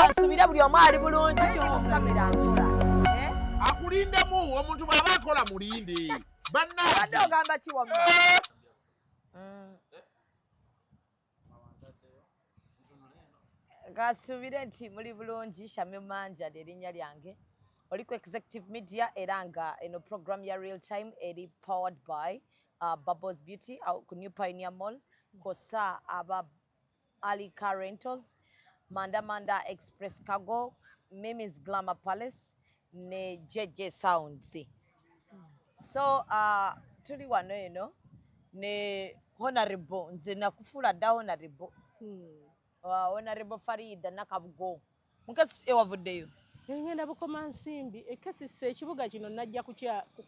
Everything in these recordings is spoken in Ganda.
nsubire buli omu ali bulungi akulindemu omuntu bwaba akola mulinde bannabadde ogamba kiwama eh? kasuubire nti muli bulungi shamim manja lyerinnya lyange oli ku executive media era nga eno program ya real time eri powered by uh, bubbles beauty uh, ku new pioneer mall kosa aba ali car rentals manda manda express cargo mimi's glamour palace ne JJ Sounds so uh, tuli wano eno ne honorable nze nakufuula dda honorable hmm. uh, honorable Farida Nakabugo mukasi ewavuddeyo ngenda bukoma nsimbi ekesisa ekibuga kino najja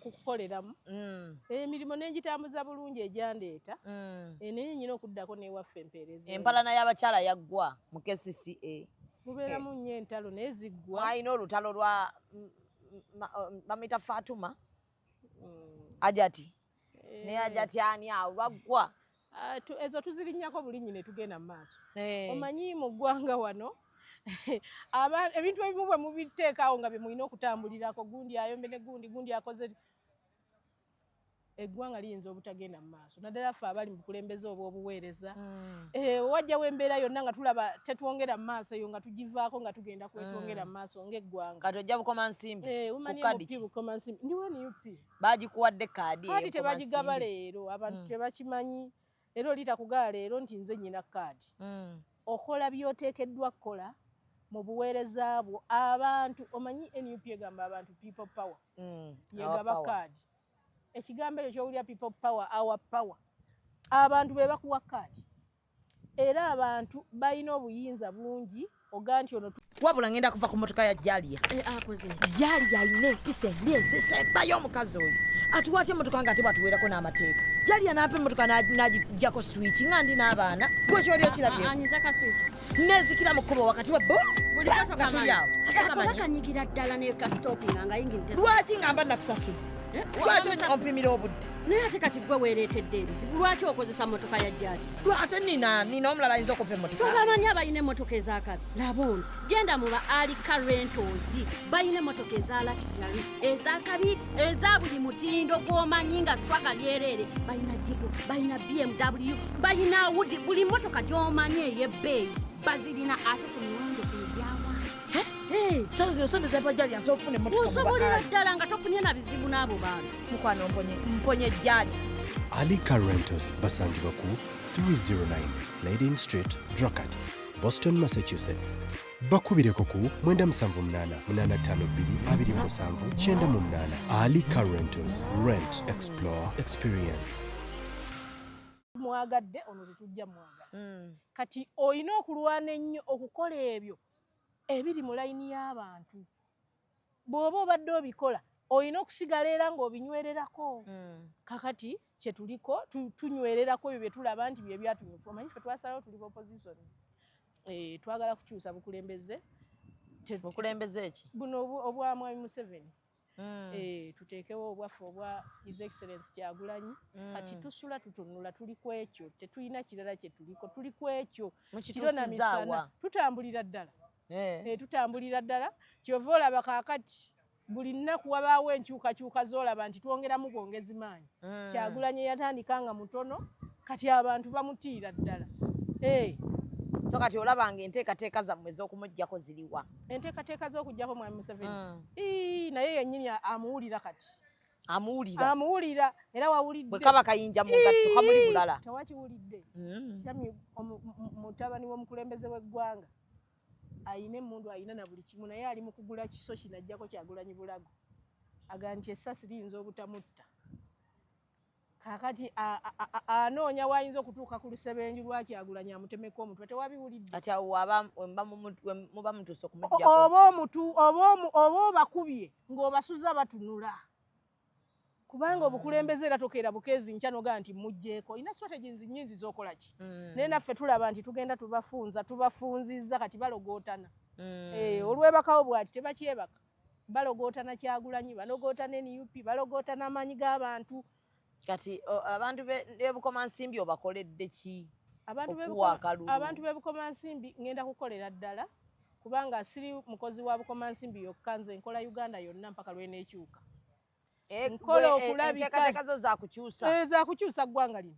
kukoleramu mm. emirimu eh, nengitambuza bulungi egyandeeta mm. eh, naye nyina okuddako newaffe empeereza empalana y'abakyala yaggwa mu kcca mubeeramu nnyo entalo naye ziggwa alina olutalo lwa bamuyita fatuma mm. ajati eh. naye ajati ani awo lwaggwa ah, ezo tuzirinyako bulinyi ne tugenda mu maaso eh. omanyi mu ggwanga wano ebintu ebimu bwe mubiteekaawo nga bye mulina okutambulirako gundi ayombe ne gundi gundi akoze eggwanga liyinza obutagenda mu maaso naddala ffe abali mu bukulembeze obw'obuweereza mm. eh, wajjawo embeera yonna nga tulaba tetwongera mu maaso eyo nga tugivaako nga tugenda kwetwongera mm. mu maaso ng'eggwanga kati ojja bukoma nsimbi eh, kukadiki bukoma nsimbi ndi wnup baagikuwadde kaadi kadi tebagigaba leero abantu mm. tebakimanyi era oli takugaa leero nti nze nyina kaadi mm. okola byotekeddwa kukola mu buweereza bwo abantu omanyi nup egamba abantu people power mm. yegaba kaadi ekigambo ekyo kyowulira people power our power abantu be bakuwa kaadi era abantu balina obuyinza bungi oganti ono wabula ngenda kuva ku motoka ya jalia eh, jalia alina empisa embi enzisa ebayo omukazi oyo atuwatya emotoka nga ate bwatuweerako n'amateeka jalia naapa emotoka nagijjako swiki nga ndi n'abaana gwekyoli okirabye ah, ah, nezikira mu kkubo wakati wa botulyawokanyigira ddala nekastopinga nga yingi lwaki nga mba nakusasudde eh, lwaki ompimira obudde naye ate kati gwe weereetedde ebizibu lwaki okozesa motoka ya jalia ate nina nina omulala ayinza okupa emotoka tobamanyi abalina emotoka ezakabi laba ono genda muba alika rentozi balina emotoka ezalakijali ezakabi eza buli mutindo gwomanyi nga swaga lyerere balina jigo balina bmw balina wudi buli motoka gyomanyi eyebbeeyi bazirina ate ku miwendo egyawansi eh? eh. sauzirosondezabajaliasofuneusobolera ddala nga tofunye na bizibu n'abo bantu mukwano mponye mponye ejjaali ali car rentals basangibwa ku 309 slading street drakat boston massachusetts bakubireko ku 97822529 ali car rentals rent explore experience mwagadde ono tetujja mwagala mm. kati olina okulwana ennyo okukola ebyo ebiri mu layini y'abantu bw'oba obadde obikola olina okusigala era ng'obinywererako mm. kakati kyetuliko tunywererako ebyo byetulaba nti byebyatunyufu omanyi fe twasalawo tuli opposition eh, twagala kukyusa bukulembeze bukulembeze eki buno obwa mwami museveni mm. eh, tuteekewo obwaffe obwa his excellence kyagulanyi mm. kati tusula tutunula tuli ku ekyo tetulina kirala kyetuliko tuli ku ekyo kirona misana tutambulira ddala eh. eh, tutambulira ddala kyova olaba kakati buli nnaku wabaawo enkyukakyuka zolaba nti twongeramu bwongezi maanyi mm. kyagulanye yatandika nga mutono kati abantu bamutiira ddala eh. so kati olaba nga enteekateeka zammwe ez'okumuggyako ziriwa enteekateeka z'okuggyako mwami museveni mm. naye yennyini amuwulira kati amuwulira amuwulira era wawulidde bwe kaba kayinja mu ngatto kamuli bulala tewakiwulidde mm. sami mutabani w'omukulembeze w'eggwanga ayina emundu ayina na buli kimu naye ali mu kugula kiso kino ajjako kyagulanyi bulago aga nti essasi liyinza obutamutta kakati anoonya wayinza okutuuka ku lusebenju lwakyagulanyi amutemeko omutwe tewabiwuliddeoba obakubye ng'obasuza batunula kubanga obukulembeze era tokeera bukeezi nkya nogaa nti mugjeeko olina strategies nyingi zokola ki mm. naye naffe tulaba nti tugenda tubafunza tubafunzizza kati balogootana mm. eh, olwebakawo bwati tebakyebaka balogoota na kyagulanyi balogoota ne nup balogoota n'amaanyi g'abantu kati abantu bebukomansimbi obakoledde ki abantu bebukomansimbi ngenda kukolera ddala kubanga siri mukozi wa bukomansimbi yokka nze nkola uganda yonna mpaka lwenekyuka eh, nkola eh, okulabikaezakukyusa eh, ggwanga lino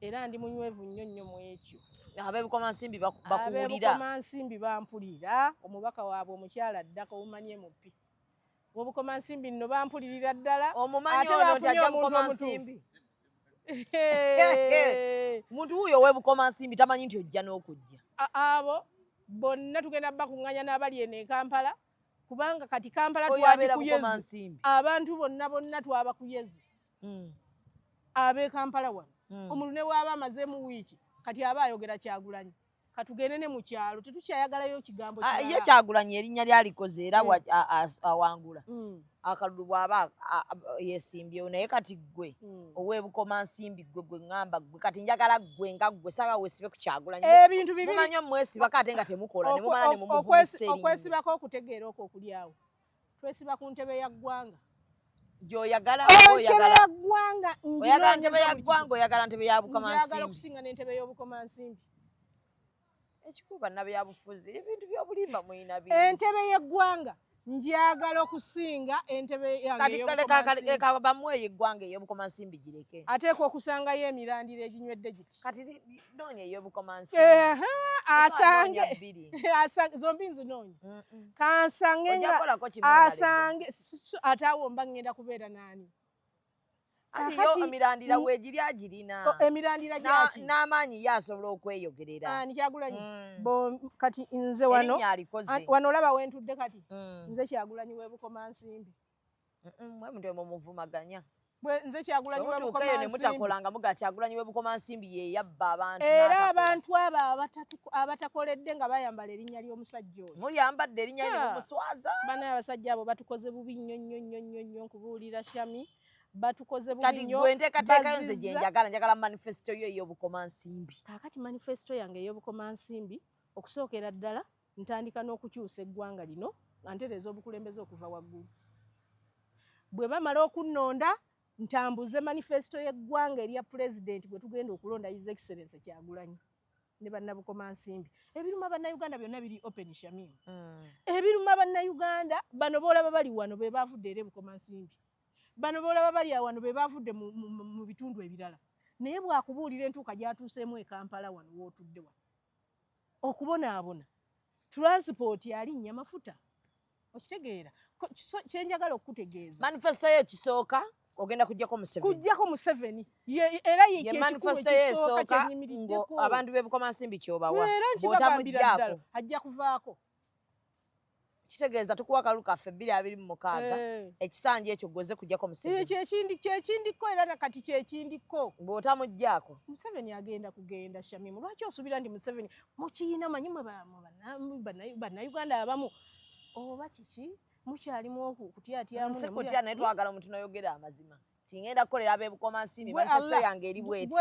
era ndi munywevu nnyo nnyo mu ekyo abeebikomansimbi bakuwulirabeebikomansimbi bampulira omubaka waabwe omukyala ddaka omumanyi emupi wobukomansimbi nno bampulirira ddala ate bafunye omuntu omutuufu muntu wuuyo owebukomansimbi tamanyi nti ojja n'okujja abo bonna tugenda bakuŋŋanya n'abali eno e kampala kubanga kati kampala twali kuyezi abantu bonna bonna twabakuyezi mm. ab'e kampala wano mm. omuntu ne waaba amazeemu wiiki kati aba ayogera kyagulanyi katugende ne mukyalo tetukyayagalayo kigambo ah, ye kyagulanyi erinnya lyalikoze era mm. awangula mm. akalulu bwaba yesimbyewo naye kati gwe mm. owebukoma nsimbi gwe gwe ngamba gwe kati njagala gwe nga gwe saba wesibe ku kyagulanyi ebintu bibiri mumanyo mwesiba kate nga temukola nemumala nemumuvumiseeri okwesibako okutegeera okwo okulyawo twesiba ku ntebe ya ggwanga gyoyagala oyagalagwanga oyagala ntebe ya ggwanga oyagala ntebe ya bukomansimbi okusinga n'entebe y'obukomansimbi ekikuba nabyabufuzi ebintu byobulimba mulina bi entebe y'eggwanga njagala okusinga entebe yangeekabamweyo eggwanga eyobukomansimbi gireke ateekwa okusangayo emirandira eginywedde giti kati noonya eyobukomansi asange asange zombi nzinoonya kansange asange ate awo mba ngenda kubeera naani emirandira wegiri agirina emirandira gyaki n'amaanyi ye asobola okweyogerera ani kyagulanyi mm. kati nze wano wano olaba wentudde kati mm. nze kyagulanyi webukoma nsimbi mwemude mumuvumaganya nze kyagulanyi webukomansimutakolanga muga kyagulanyi webukomansimbi yeyabba abantu era abantu abo abatakoledde nga bayambala erinnya ly'omusajja oyo muyambadde erinnya lyomuswaza bana abasajja abo batukoze bubi nnyo nnyo nnyo nnyo nnyo nkubuulira shami batukoze bubinyokatiguentekateekayo nze gyenjagala njagala manifesito yo ey'obukomansimbi kakati manifesito yange ey'obukomansimbi okusookera ddala Ntandika n'okukyusa eggwanga lino nga ntereeza obukulembeze okuva waggulu. Bwe bamala okunnonda ntambuze manifesito y'eggwanga erya pulezidenti gwe tugenda okulonda His Excellency Kyagulanyi ne bannabukomansimbi ebiruma bannayuganda byonna biri open shamim mm. ebiruma bannayuganda bano boolaba bali wano be baavudde era ebukomansimbi bano boolaba bali awano be baavudde mu bitundu ebirala naye bwakubuulira entuuka gyatuuseemu e kampala wano wootudde wano okubonaabona transport alinnya mafuta okitegeera kyenjagala okukutegeeza manifesto yo ekisooka ogenda kujjako museveni kujjako museveni era yemanifesto yo esooka abantu bebukomansimbi kyobawa botamujjako ajja kuvaako kitegeeza tukuwa akalulu kaffe bbiri abiri mu mukaaga eh. ekisanja ekyo gwoze kujjako museveni kyekindi kyekindikko era nakati kyekindikko bw'otamuggyako museveni agenda kugenda shamimu lwaki osubira nti museveni mukiina manyi mwe bannayuganda abamu oba kiki mukyalimu okutyatyamusikutya naye twagala omuntu noyogera amazima tingenda kukolera ab'e Bukomansimbi manifesto yange eri bweti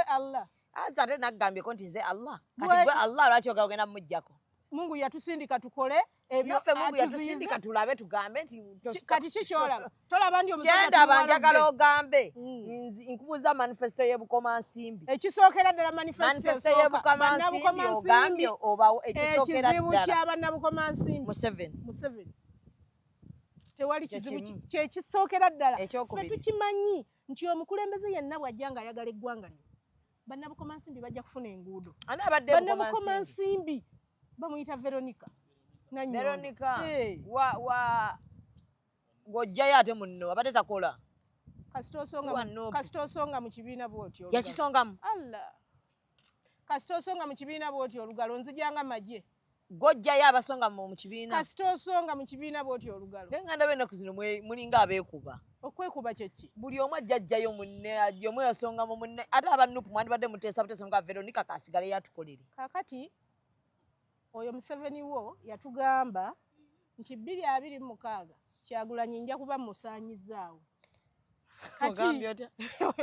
anze ate naggambyeko nti nze Allah kati gwe Allah lwaki ogala ogenda mumuggyako Mungu yatusindika tukole ebyo Mungu yatusindika tulabe tugambe nti kati ki kyolaba tolaba ndi omusajja kyendaba njagala ogambe mm. nkubuuza manifesto y'e Bukomansimbi ekisookera ddala manifesto y'e Bukomansimbi ogambye obawo ekisookera ddala ekizibu kya bannabukomansimbi Museveni Museveni tewali kizibu kyekisookera ddala fe tukimanyi nti omukulembeze yenna bw'ajja nga ayagala eggwanga lino bannabukoma nsimbi bajja kufuna enguudo bannabukoma nsimbi bamuyita veronica veronica ng'ojjayo ate munno abadde takola kasita osonga mu kibiina bwotyo yakisongamu allah kasita osonga mu kibiina bw'oti olugalo nzija nga magye gojjayo abasonga mu kibiina kasita osonga mu kibiina bw'oti olugalo naye nga ndaba ennaku zino mulinga abeekuba okwekuba kyeki buli omu ajjajjayo munne ajja omu yasonga mu munne ate abanupu mwandibadde muteesa buteesa nga veronika kasigale yatukolere kakati Oyo Museveni wo yatugamba nti bbiri abiri mu mukaaga Kyagulanyi nja kuba musaanyizaawo. Ogambye otya?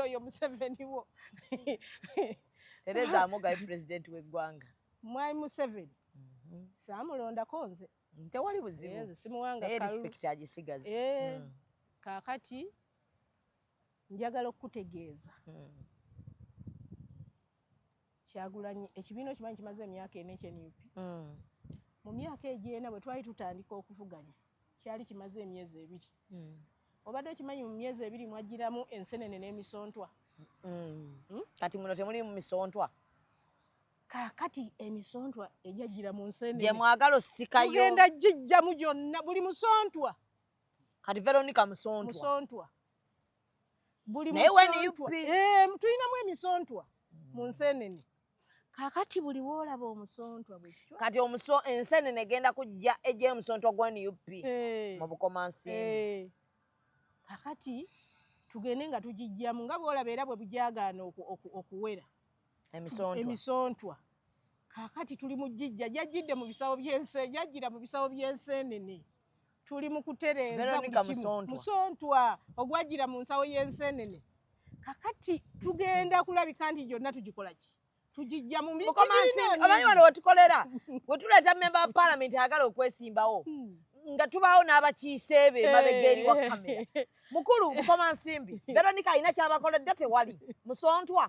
Oyo Museveni wo. Tereza Amugaye pulezidenti w'eggwanga. Mwai Museveni mhm. saamulondako nze. Tewali buzibu. Nze simuwanga kalu. Respect agisigaza. Eh, mm. Kaakati njagala okukutegeeza. Mm. Kyagulanyi ekibiina okimanyi kimaze emyaka ena ekye nup mm. mu myaka egyo ena bwe twali tutandika okuvuganya kyali kimaze emyezi ebiri mm. obadde okimanyi mu myezi ebiri mwajjiramu ensenene n'emisontwa mm. hmm? kati muno temuli mu misontwa kakati emisontwa egyajjira mu nsenene gye mwagala osikayo genda gijjamu gyonna buli musontwa kati veronica musontwa musontwa buli eh, tulinamu emisontwa mu nsenene kakati buli woolaba omusontwa bwekyo kati omuso ensenene egenda kujja ejja omusontwa gwa nup eh. mu bukomansimbi eh. kakati tugende nga tugijjamu nga bwolaba era bwe bujagaana okuwera emisontwa kakati tuli mu jijja jajjidde mu bisawo byense jajjira mu bisawo by'enseenene tuli mu kutereeza musontwa ogwajjira mu nsawo y'enseenene kakati tugenda kulabika nti gyonna tugikola ki tugijja mu mikomansiamanyi wano wetukolera wetuleeta memba wa palamenti ayagala okwesimbawo hmm. nga tubaawo n'abakiise be eh. mabega eri wa kamera mukulu mukoma nsimbi veronika alina kyabakoledde tewali musontwa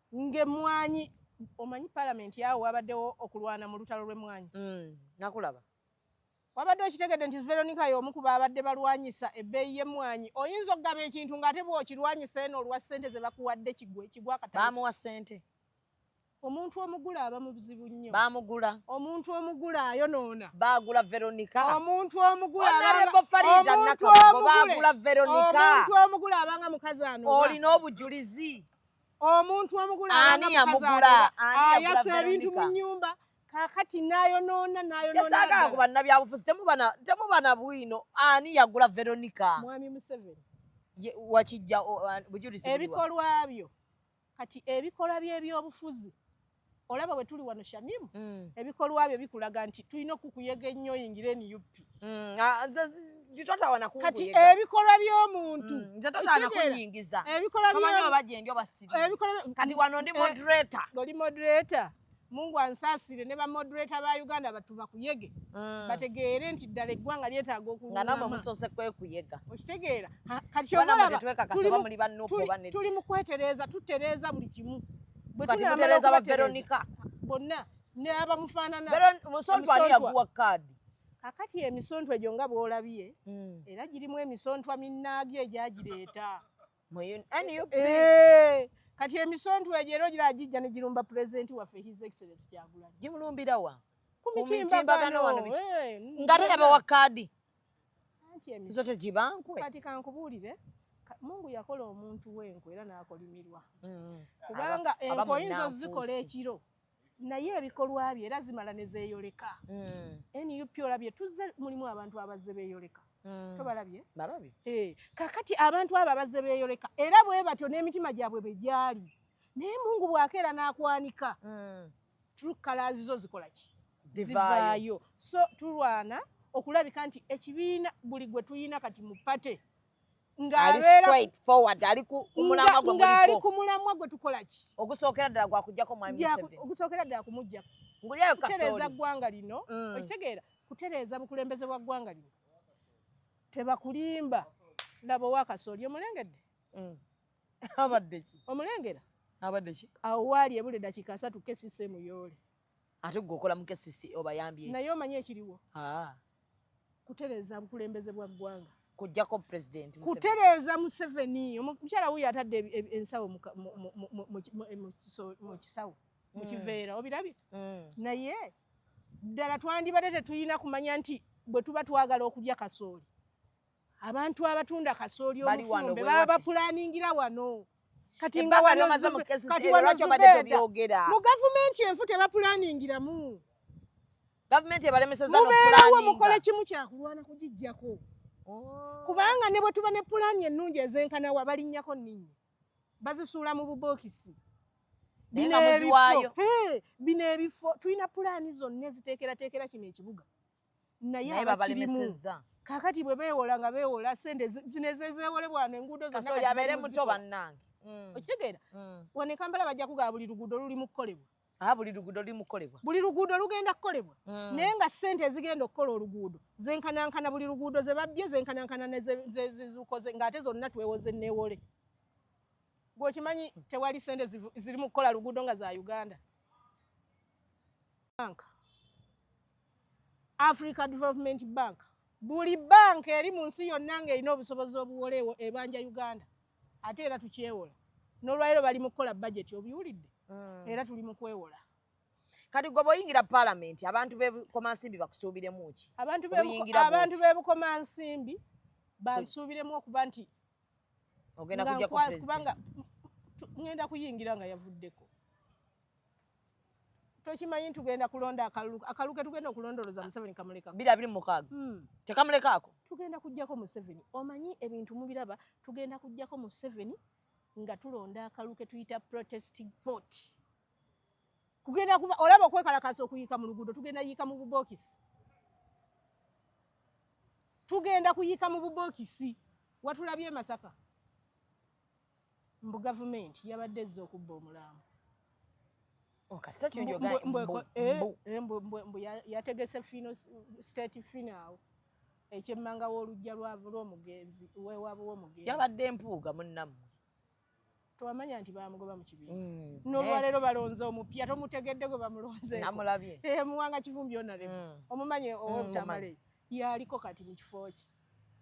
ng'emmwanyi omanyi palamenti awo wabaddewo okulwana mu lutalo lw'emmwanyi mm, nakulaba wabadde okitegedde nti veronica y'omu ku baabadde balwanyisa ebbeeyi y'emmwanyi oyinza okugaba ekintu ng'ate bw'okirwanyisa eno olwa ssente ze bakuwadde kigwe kigwa kata baamuwa ssente omuntu omugula aba mubuzibu nnyo baamugula omuntu omugula ayonoona baagula veronica omuntu omugulaomuntu omugula abanga mukazi anoolina obujulizi omuntu omugula ani yamugula ayasa ebintu mu nyumba kakati nayonoona nayonoonakyesaagala ku bannabyabufuzi temubana bwino ani yagula veronica mwami museveni wakijja bujulizi ebikolwa byo kati ebikolwa by'ebyobufuzi olaba bwe tuli wano shamimu mm. ebikolwa byo bikulaga nti tulina okukuyega ennyo oyingire nup mm. ah, kati ebikolwa by'omuntu mm, oli moderator eh, mungu ansaasire ne bamoderator ba uganda batu bakuyege bategeere nti ddala eggwanga lyetaaga okulunamaokitegeera kati tuli mu kwetereeza tutereeza buli kimu kati mutereza ba Veronica bonna ne abamufaanana musontwa ani yakuwa kaadi kakati emisontwa egyo nga bw'olabye hmm. era girimu emisontwa minnaagyo egyagireeta eh, kati emisontwa egyo era ogira gijja ne girumba pulezidenti waffe his excellence kyagulanyi gimulumbira wa ku mitimbagano wano eh, nga teyabawa kaadi anti emize tegibankwe kati kankubuulire mungu yakola omuntu wenku era n'akolimirwa mm-hmm. kubanga enku oyinza ozikola ekiro naye ebikolwa bye era zimala ne zeeyoleka mm. nup olabye tuzze mulimu abantu abazze beeyoleka mm. tobalabye eh, kakati abantu abo abazze beeyoleka era bwe batyo n'emitima gyabwe bwe gyali naye mungu bw'akeera n'akwanika mm. true colors zo zikola ki zivaayo so tulwana okulabika nti ekibiina buli gwe tuyina kati mu pate ng'ali ku mulamwa gwe tukola ki ogusookera ddala gwakujjako ogusookera ddala kumujjako kutereeza ggwanga lino mm. okitegeera kutereeza bukulembeze bwa ggwanga lino tebakulimba laba owakasoli omulengedde mm. abadde ki omulengera abadde ki awo waali ebule dakiika asatu kesisi emuyoole ate gwe okola mu kesisi obayambye naye omanyi ekiriwo ah. kutereeza bukulembeze bwa ggwanga kujjako president kutereeza museveni omukyala wuyo atadde ensawo mu kisawo mu mm. kiveera obirabye mm. naye ddala twandibadde tetulina kumanya nti bwe tuba twagala okulya kasooli abantu abatunda kasooli omufumbe baba bapulaningira wano kati nga wali omaze mu kesi zero lwaki obadde tobyogera mu gavumenti enfu tebapulaningiramu gavumenti ebalemeseza nokubeerawo mukole kimu kyakulwana kugijjako oh. kubanga ne bwe tuba ne pulaani ennungi ezenkana wa balinnyako nninyi bazisuula mu bubookisi bino ebifo tulina pulaani zonna eziteekerateekera kino ekibuga naye abakirimu kakati bwe beewola nga beewola sente zino ezezeewolebwa no enguudo zonnayabeere muto bannange mm. okitegeera mm. wano ekampala bajja kugaa buli luguudo luli mu kukolebwa ah, buli luguudo luli mu kukolebwa buli luguudo lugenda kukolebwa mm. naye nga sente ezigenda okukola oluguudo zenkanankana buli luguudo ze babbye zenkanankana nezizukoze ng'ate zonna twewoze neewole gweokimanyi tewali sente ziri mu kukola luguudo nga za uganda Africa Development Bank buli banka eri mu nsi yonna ng'erina obusobozi obuwoleewo ebanja Uganda ate era tukyewola n'olwaliro bali mu kukola bajeti obiwulidde mm. era tuli mu kwewola kati gwe bwoyingira palamenti abantu bebukomansimbi bakusuubiremu ki abantu bebukomansimbi bansuubiremu okuba nti ogenda kujja kubanga ngenda kuyingira nga yavuddeko tokimanyi nti tugenda kulonda akalulu akalulu ke tugenda okulondoloza museveni kamulekako biri abiri mukaaga hmm. tekamulekaako tugenda kujjako museveni omanyi ebintu mubiraba tugenda kujjako museveni nga tulonda akalulu ke tuyita protesting vote kugenda kuba olaba okwekalakasa okuyiika mu luguudo tugenda yiika mu bubokisi tugenda kuyiika mu bubokisi watulabye emasaka mbu gavumenti yabadde ezza okubba omulambo oh, eh, eh, mbu yategese fino state finawo ekyemmanga w'olujja lw'omugenzi wewaabwe w'omugenzi yabadde empuuga munnammwe tewamanya nti bamugoba mu kibiina mm, nolwaleero eh. balonze omupya tomutegedde gwe bamulonzemuwanga kivumbi onale mm. omumanyi mm, owobutamale yaliko kati mu kifo kye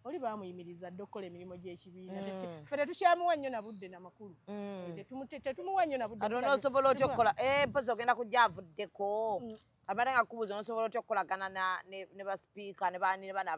oli baamuyimiriza dda okukola emirimu gy'ekibiina mm. ffe tetukyamuwa nnyo na budde na makulu mm. tetumuwa nnyo na budde ate onoosobola otya okukola eh, mpozi ogenda kujja avuddeko mm. abadde nga kubuuza onosobola otya okukolagana ne basipiika ne baani ne bana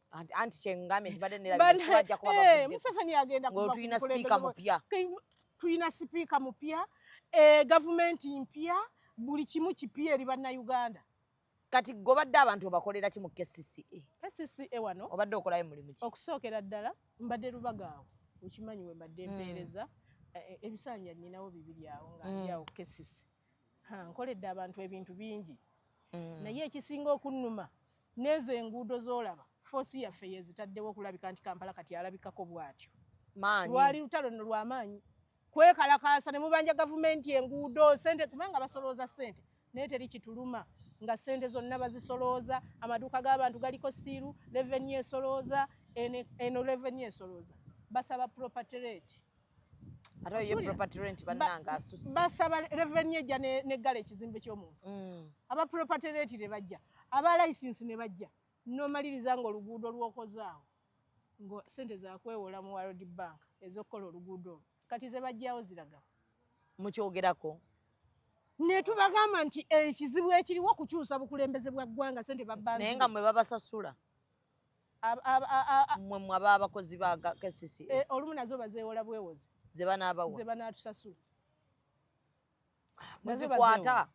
anti kyengambe ntibadde neraajja kuba eh, museveni agenda ngotulina sipiika mupya tulina sipiika mupya eh, gavumenti mpya buli kimu kipya eri bannayuganda kati gobadde abantu obakolera ki mu kcca e? kcca e wano obadde okolayo mulimu ki okusookera ddala mbadde lubaga awo okimanyi we mbadde hmm. mpeereza eh, ebisanja nyinawo bibiri awo nga hmm. ndyawo kcca nkoledde abantu ebintu bingi hmm. naye ekisinga okunnuma N'ezo enguudo z'olaba foosi yaffe yeezitaddewo okulabika nti Kampala kati alabikako bw'atyo. Lwali lutalo nno lwa maanyi kwekalakaasa ne mubanja gavumenti enguudo sente kubanga basolooza sente naye teri kituluma nga sente zonna bazisolooza amaduuka g'abantu galiko siiru leveni esolooza eno leveni esolooza basaba property rate ate oyo property rent bannanga asusse basaba revenue ejja neggala ekizimbe ky'omuntu mm. aba property rent ne bajja aba license ne bajja nomaliriza nga oluguudo lwokozaawo nga sente zakwewola mu world bank ezokukola oluguudo olwo kati zebajjawo ziraga mukyogerako netubagamba nti ekizibu ekiriwo kukyusa bukulembeze bwa ggwanga sente babanaye nga mwe babasasula mwe mwe aba abakozi ba KCC e, eh, olumu nazo bazeewola bwewozi ze banaabawa ze banaatusasula muzikwata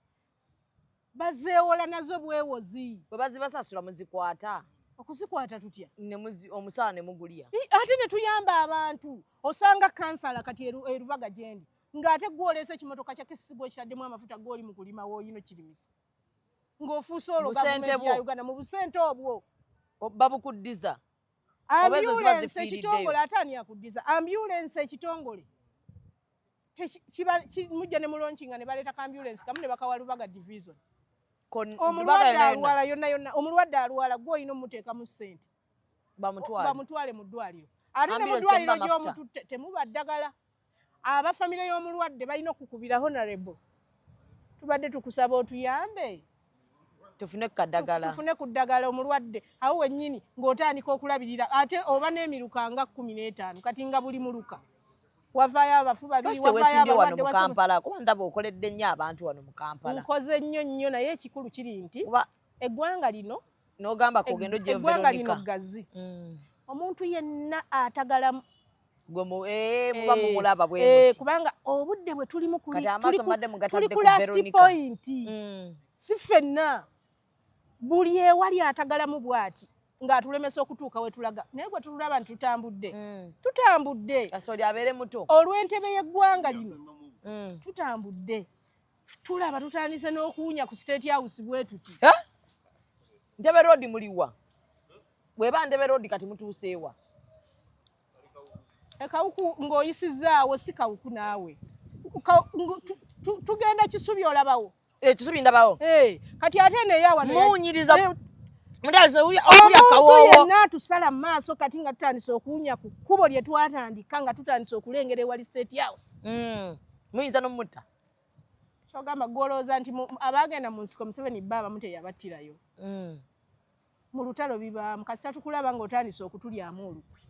bazeewola nazo bwewozi bwe bazibasasula muzikwata okuzikwata tutya omusaala ne mugulya ate ne tuyamba abantu osanga kansala kati erubaga gyendi ng'ate gwoleese ekimotoka kya kisigo ekitaddemu amafuta g'oli mu kulima wooyino kirimisa ng'ofuuse olwo gavumenti ya uganda mu busente obwo babukuddiza ambulensi ekitongole ate ani akuddiza ambulensi ekitongole mujja ne mulonkinga ne baleeta ka ambulensi kamu ne bakawa lubaga division omulwadde alwala yonna yonna omulwadde alwala gwe olina omuteekamu ssente bamutwale bamutwale mu ddwaliro ate ne mu ddwaliro gy'omututte temuba ddagala aba famire y'omulwadde balina okukubira honorable tubadde tukusaba otuyambe tufune kadagala tufune ku ddagala omulwadde awo wennyini ng'otandika okulabirira ate oba n'emiruka nga kkumi n'etaano kati nga buli muluka wavaayo abafu babiriwesimbye wano mu kampala kuba ndaba okoledde nnyo abantu wano mu kampala nkoze nnyo nnyo naye ekikulu kiri nti eggwanga lino nogamba kugenda ojja eggwanga lino ggazi mm. omuntu yenna atagala eh, muba eh, mumulaba bwe eh, kubanga obudde bwe tulimu tuli ku last point mm. si ffenna buli ewali atagalamu bwati ng'atulemesa okutuuka we tulaga naye gwe tulaba nti tutambudde mm. tutambudde olw'entebe y'eggwanga lino tutambudde tulaba tutandise n'okuwunya ku state house bwetuti ndebe road muliwa bweba ndebe road kati mutuuseewa ekawuku ng'oyisizaawo si kawuku naawe tugenda kisubi olabawo eh, kisubi ndabawo eh, kati ate neyawamuwunyiriza eh, yenna tusala mu maaso kati nga tutandise okuwunya ku kkubo lye twatandika nga tutandise okulengera ewali state house mm. muyinza nomutta kyogamba gwolowooza nti abaagenda mu nsiko museveni bba abamu teyabattirayo mm. mu lutalo bibaamu kasita tukulaba nga otandise okutulyamu olukwe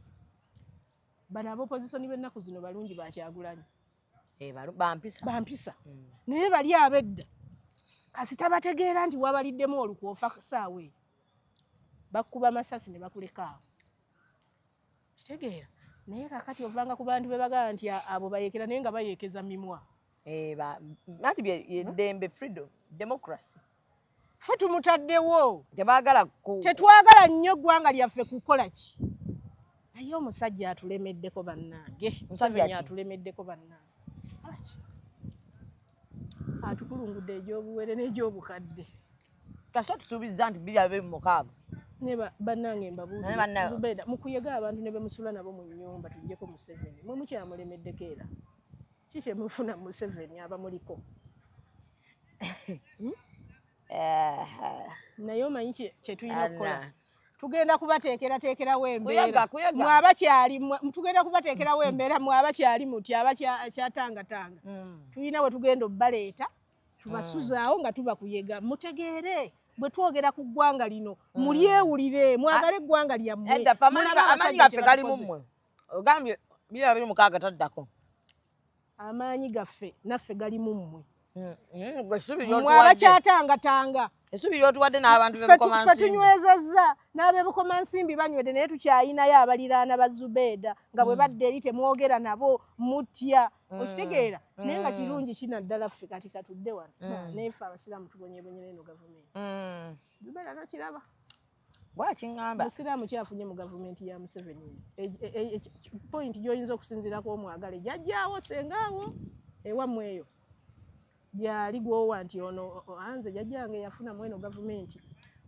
bano abopozisoni b'ennaku zino balungi bakyagulanyi eh, bampisa mm. naye bali abedda kasita bategeera nti wabaliddemu olukwe ofa saawa eyo bakukuba masasi ne bakulekaawo kitegeera naye kakati ovanga ku bantu bebagala nti abo bayekera naye nga bayekeza mimwa eh, anti eddembe hmm? freedom democracy fe tumutaddewo tebagala tetwagala nnyo eggwanga lyaffe kukola ki naye omusajja atulemeddeko bannange museveni atulemeddeko bannange atukulungudde egy'obuwere n'egy'obukadde kasita tusuubizza nti biri abe mumukaaga naye bannange mbabuuzubeeda mukuyega abantu ne bemusula nabo mu nyumba tujjeko museveni mwe mukyamulemeddeko era ki kyemufuna museveni abamuliko hmm? eh, eh. naye omanyi kyetulina okukola tugenda kubateekerateekerawo embeera mwe abakyali tugenda kubateekerawo embeera mwe abakyali muti abakyatangatanga hmm. tulina we tugenda obbaleeta tubasuzaawo nga tubakuyega mutegeere bwe twogera ku ggwanga lino hmm. mulyewulire mwagala ah. eggwanga lyammwe amaanyi gaffe gali mu mmwe ogambye bira biri mukaaga taddako amaanyi gaffe naffe gali mu mmwe hmm, hmm, mwe abakyatangatanga esubi lyotuwadde n'abantu bebukomansimbi tunywezezza n'abebukomansimbi banywedde naye tukyayinayo abaliraana ba zubeeda nga bwe mm. badde eri temwogera nabo mutya mm. okitegeera mm. naye nga kirungi kina ddala ffe kati katudde wano naye ffe abasiraamu tubonyebonyera eno gavumenti zubeeda nokiraba bwakiŋamba musiraamu kyafunye mu gavumenti ya museveni e, e, e, point gyoyinza okusinzirako omwagale jajjaawo sengaawo ewamu eyo gyali gwowa nti ono anze jajjange yafuna mweno gavumenti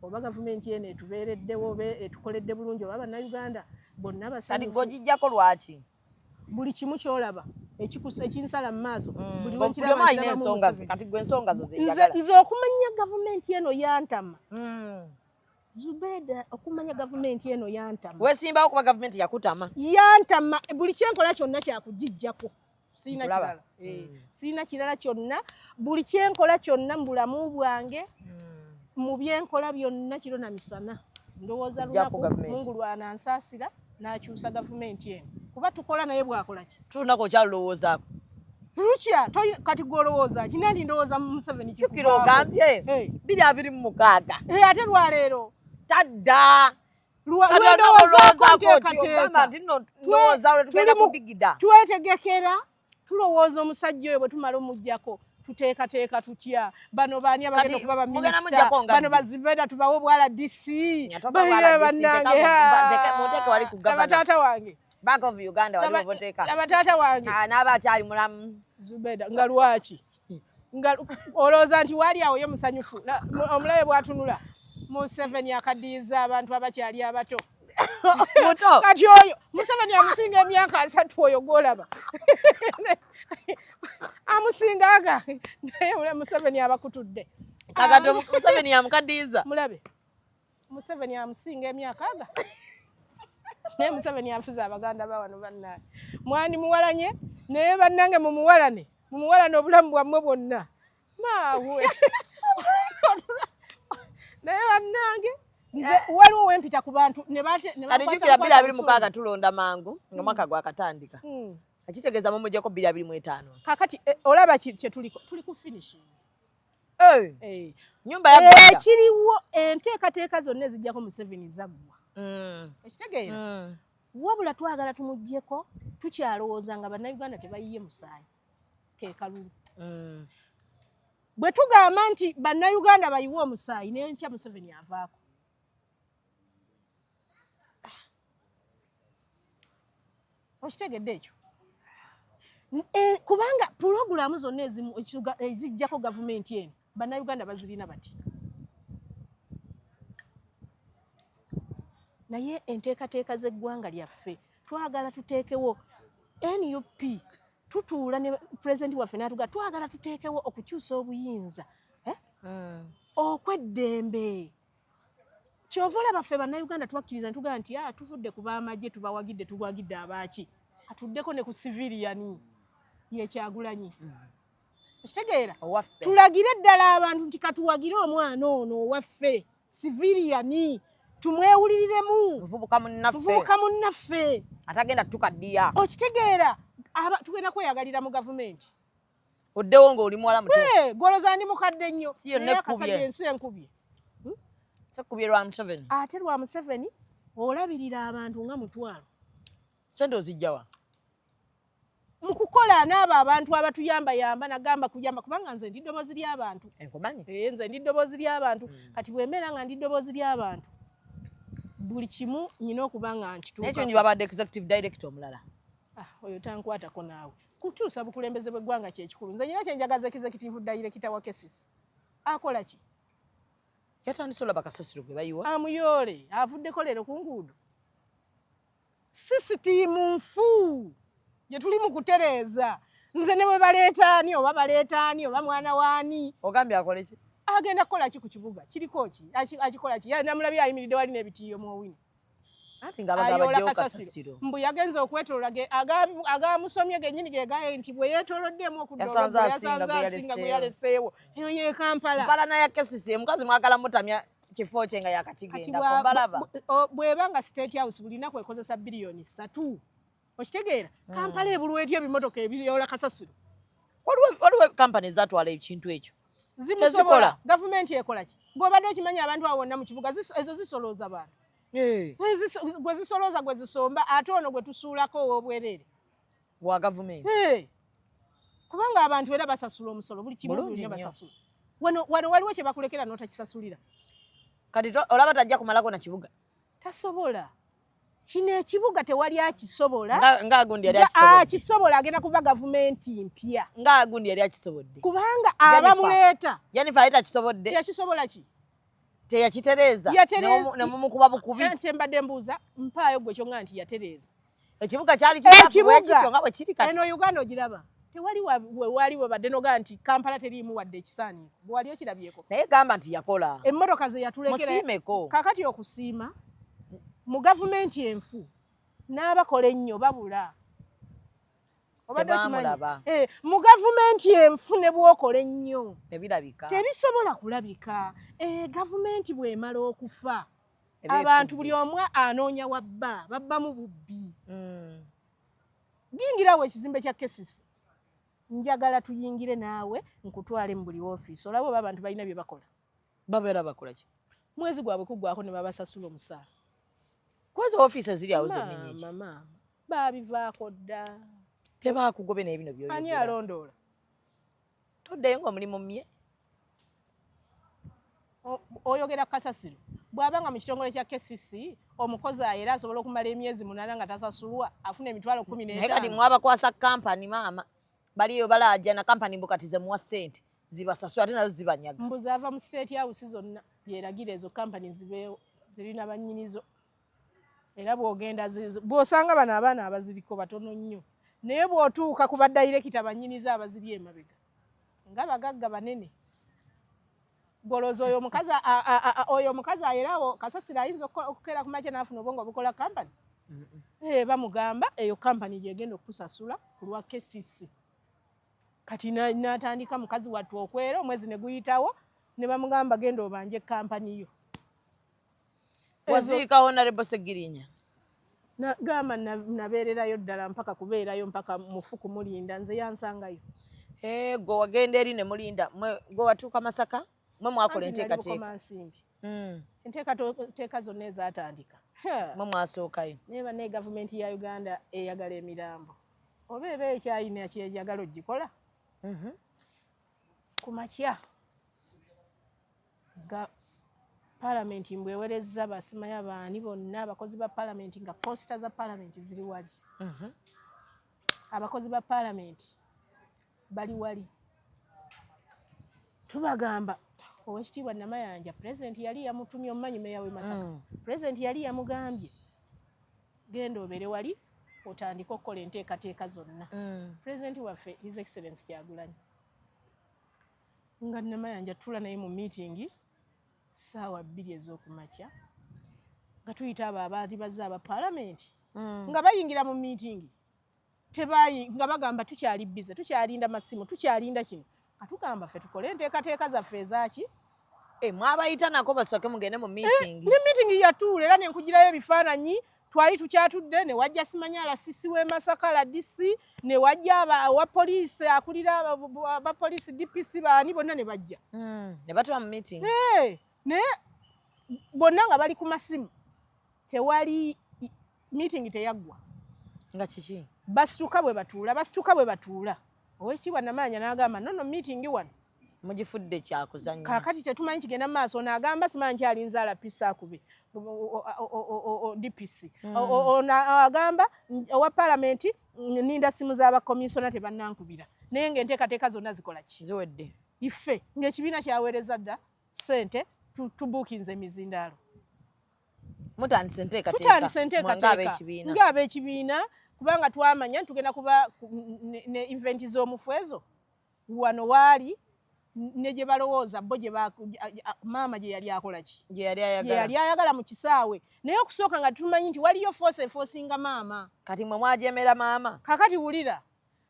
oba gavumenti eno etubeereddewo oba etukoledde bulungi oba bannayuganda bonna basajjako lwaki buli kimu kyolaba ekinsala mu maaso nze okumanya gavumenti eno yantama hmm. zubeda okumanya gavumenti eno yantama wesimbawo kuba gavumenti yakutama yantama buli kyenkola kyonna kyakugijjako sirina kirala eh, hmm. sirina kirala kyonna buli kyenkola kyonna mu bulamu bwange hmm. mu byenkola byonna kiro na misana ndowooza lunaku mungu lwanansaasira n'akyusa gavumenti eno kuba tukola naye bwakola ki tulunako okyalulowoozaako lukya kati gwolowooza kina nti ndowooza museveni kikira ogambye eh. biri abiri mu mukaaga eh, ate lwaleero tadda twetegekera tulowooza omusajja oyo bwe tumala omuggyako tuteekateeka tutya bano baani abagenda okuba baminisita bano bazibeda tubawe obwala dc bannangeabataata wange bank of uganda walioboteka abataata wange ah, n'aba akyali mulamu zubeda nga lwaki nga olowooza nti waali awo ye musanyufu omulabe bwatunula museveni akadiyiza abantu abakyali abato muto kati oyo museveni amusinga emyaka asatu oyo gwolaba amusinga aga naye museveni abakutudde kakati museveni yamukadiyiza mulabe Museveni amusinga emyaka aga naye Museveni afuze abaganda ba wano bannange mwani muwalanye naye bannange mumuwalane mumuwalane obulamu bwammwe bwonna maawe naye bannange nze eh. waliwo wempita ku bantu nebajukira biri abiri mukaaga tulonda mangu nga hmm. mwaka gwakatandika hmm. akitegeeza mumujeko biri abiri mu etaano kakati eh, olaba kyetuliko tuli ku finishing Eh. nyumba ya eh, ekiriwo enteekateeka zonna ezijjako museveni zaggwa mm. ekitegeera mm. wabula twagala tumugjeko tukyalowooza nga bannayuganda tebayiye musaayi kekalulu mm. bwe tugamba nti bannayuganda bayiwe omusaayi nenkya museveni avaako okitegedde ekyo eh, kubanga pulogulaamu zonna ezimu ezijjako gavumenti eno bannayuganda bazirina bati naye enteekateeka z'eggwanga lyaffe twagala tuteekewo nup tutuula ne pulezidenti waffe natuga twagala tuteekewo okukyusa obuyinza eh? hmm. okweddembe kyova olaba ffe bannayuganda twakkiriza ne tugamba nti ah, tuvudde ku baamagye tubawagidde tugwagidde abaaki atuddeko ne ku siviliyani yekyagulanyi mm. okitegeera tulagire ddala abantu nti katuwagire omwana ono owaffe siviliyani tumwewuliriremu muvubuka munnaffe atagenda tukaddiya okitegeera tugenda kweyagalira mu gavumenti oddewo ng'oli muwala muto eh, goloza ndi mukadde nnyo akasajja ensi enkubye hmm? sekubye lwa museveni ate lwa museveni olabirira abantu nga mutwalo sente ozijjawa mu kukola n'abo abantu abatuyambayamba nagamba kuyamba kubanga nze ndi ddoboozi ly'abantu eh, eh, nze ndi ddoboozi ly'abantu hmm. kati bwemera nga ndi ddoboozi ly'abantu buli kimu nyina okuba nga nkituuka ekyo nyo babadde executive director omulala ah, oyo tankwatako naawe Kukyusa bukulembeze bw'eggwanga kyekikulu. Nze nyina kyenjagaza ekizekitivu dayirekita wa kesisi akola ki? Yatandise olaba kasasiro gwe bayiwa amuyoole avuddeko leero ku nguudo. Sisitiimu nfu gye tuli mu kutereeza nze ne bwe baleeta ani oba baleeta ani oba mwana waani. Ogambye akole ki? Agenda kukola ki ku kibuga kiriko ki akikola ki? Namulabye ayimiridde wali n'ebitiiyo mu owini. anti nga abagabo bajja okasasiro mbu yagenze okwetolola ge agamusomye genyini ge gaye nti bwe yetoloddeemu okuddayasanze asinga gwe yaleseewo eyo ye kampala mpala naye kesisi omukazi mwagala mutamya kifo kye nga yakatigendako mbalaba bweba nga state house bulinaku ekozesa biliyoni satu okitegeera mm. kampala ebulwa etya ebimotoka ebiyoola kasasiro waliwo kampani ezatwala ekintu ekyo zimusobola gavumenti ekola ki gweobadde okimanyi abantu awo wonna mu kibuga ezo zisolooza bantu eh. gwe zisolooza gwe zisomba ate ono gwe tusuulako ow'obwereere wa gavumenti eh. kubanga abantu era basasula omusolo buli kimunya basasula wano waliwo kye bakulekera n'otakisasulira kati olaba tajja kumalako na kibuga tasobola kino ekibuga tewali akisobola akisobola agenda kuba gavumenti mpya ngaagundi yali akisobodde kubanga abamuleeta jenifa yali takisobodde yakisobola ki teyakitereeza nemumukuba bukubi nti embadde mbuuza mpaayo gwe kyonga nti yatereeza ekibuga kyali kikyafuwekityo nga bwekiri kati eno uganda ogiraba tewali wewali webadde noga nti kampala teriimu wadde ekisaani bwewali okirabyeko naye gamba nti yakola emmotoka zeyatulekermusiimeko kakati okusiima mu gavumenti enfu n'abakola ennyo babula eh, mu gavumenti enfu ne bwokola ennyo tebisobola kulabika eh, gavumenti bwemala okufa abantu buli omu anoonya wabba babbamu bubbi mm. yingirawo ekizimbe kya kesisi njagala tuyingire naawe nkutwale mu buli ofiisi olaba oba abantu balina bye bakola babeera bakola ki mwezi gwabwe kuggwako ne babasasula omusaala kwezi ofiisi eziri awo zennenyeki baabivaako dda tebaakugobe naye bino byoani alondoola toddayo nga omulimu mye oyogera kasasiro bwaba nga mu kitongole kya kcc omukozi ayo era asobola okumala emyezi munana nga tasasulwa afuna emitwalo kumi naye kati mwabakwasa kampani maama baliyo balajana kampani mbukati zemuwa sente zibasasula ate nazo zibanyaga mbuzi ava mu state house zonna yeragira ezo kampani zibeewo zirina banyinizo era bwogenda bwosanga bano abaana abaziriko batono nnyo naye bwotuuka ku badayirekita banyiniza abaziri emabega nga bagagga banene golooza oyo omukazi oyo omukazi ayerawo kasasira ayinza okukeera ku makya naafuna obwongo obukola kampani eh, bamugamba eyo kampani gyegenda okukusasula ku lwa kcc kati natandika mukazi wattu okwera omwezi neguyitawo ne bamugamba genda obanje kampani yo waziika honarebo segirinya gamba nabeererayo ddala mpaka kubeerayo mpaka mufu kumulinda nze yansangayo eh, gwe wagenda eri ne mulinda gwe watuuka masaka mwe mwakola enteekateeka hmm. enteekateeka zonna ezatandika mwe mwasookayo naye banaye gavumenti ya uganda eyagala emirambo oba eba ekyayina kyeyagala ogikola mhm. kumakya Ga, palamenti mbu ewerezza basimaya baani bonna abakozi ba palamenti nga posita za palamenti ziri wali mm -hmm. abakozi ba palamenti bali wali tubagamba owekitiibwa namayanja pulezidenti yali yamutumye omumanyi meya we masaka mm. pulezidenti yali yamugambye genda obere wali otandike okukola enteekateeka zonna mm. pulezidenti waffe his excellence kyagulanyi nga namayanja tula naye mu meeting saawa bbiri ez'okumakya nga tuyita abo abaali bazze aba palamenti mm. nga bayingira mu meeting tebayi nga bagamba tukyali bize tukyalinda masimu tukyalinda kino katugamba ffe tukole enteekateeka zaffe ezaki eh, mwabayita nako basooke mugende mu eh, meeting ne meeting yatuula era nenkugirayo ebifaananyi twali tukyatudde ne wajja simanyala sisi w'e masaka rdc ne wajja wa poliisi akulira abapoliisi dpc baani bonna ne bajja hmm, ne batula mu meeting naye bonna nga bali ku masimu tewali meeting teyaggwa nga kiki basituka bwe batuula basituka bwe batuula owekitiibwa namaanya n'agamba nono meeting wano mugifudde kyakuzanya kakati tetumanyi kigenda mu maaso ono agamba simanyi nti ali nzaala pisi akube dpc hmm. ono agamba owa palamenti ninda simu z'abakomisona tebannankubira naye nga enteekateeka zonna zikola ki ziwedde ife ng'ekibiina kyaweereza dda sente tubuukinze emizindaalo mutandise enteekateeka ng'abeekibiina kubanga twamanya tugenda kuba ne eventi z'omufwezo wano waali ne gye balowooza bo gye maama gye yali akola ki gye yali ayagala yali ayagala mu kisaawe naye okusooka nga tumanyi nti waliyo foosi efoosinga maama kati mwe mwajemera maama kakati wulira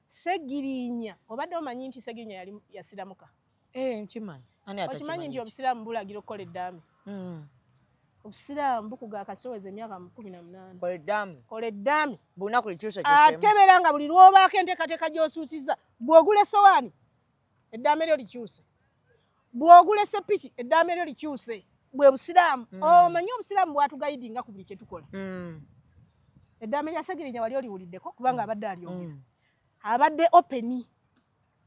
segirinya obadde omanyi nti segirinya yali yasiramuka eh, nkimanyi okimanyi nti obusiraamu bulagira okukola eddaame hmm. obusiraamu bukuga akasoweza emyaka kumi na munaana kola eddaame ate beera nga buli lwobaako enteekateeka gy'osuusiza bw'ogula essowaani eddaame lyo likyuse bw'ogula esseppiki eddaame lyo likyuse bwe busiraamu mm. omanyi oh, obusiraamu bwatugayidinga ku buli kye tukola mm. eddaame lya segirinya wali oliwuliddeko kubanga abadde alyogera mm. abadde openi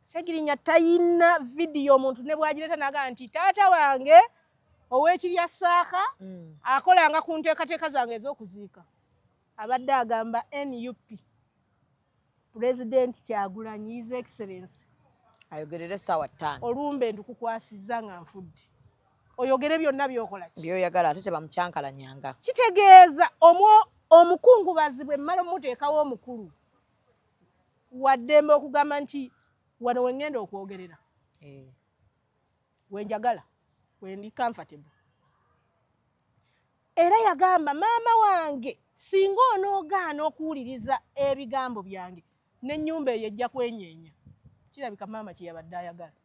segirinya tayina vidiyo omuntu ne bwagireeta naga nti taata wange ow'ekirya saaka akolanga ku nteekateeka zange ez'okuziika abadde agamba nup Pulezidenti Kyagulanyi His Excellency ayogerere essaawa ttaano olumbe ndukukwasizza nga nfudde oyogere byonna byokola ki byoyagala ate tebamukyankalanyanga kitegeeza omwo omukungubazi bwe mmala omuteekawo omukulu waddembe okugamba nti wano we ŋŋenda okwogerera eh. we njagala we ndi comfortable Era yagamba maama wange, singa onoogaana okuwuliriza ebigambo byange n'ennyumba eyo ejja kwenyeenya. Kirabika maama kye yabadde ayagala.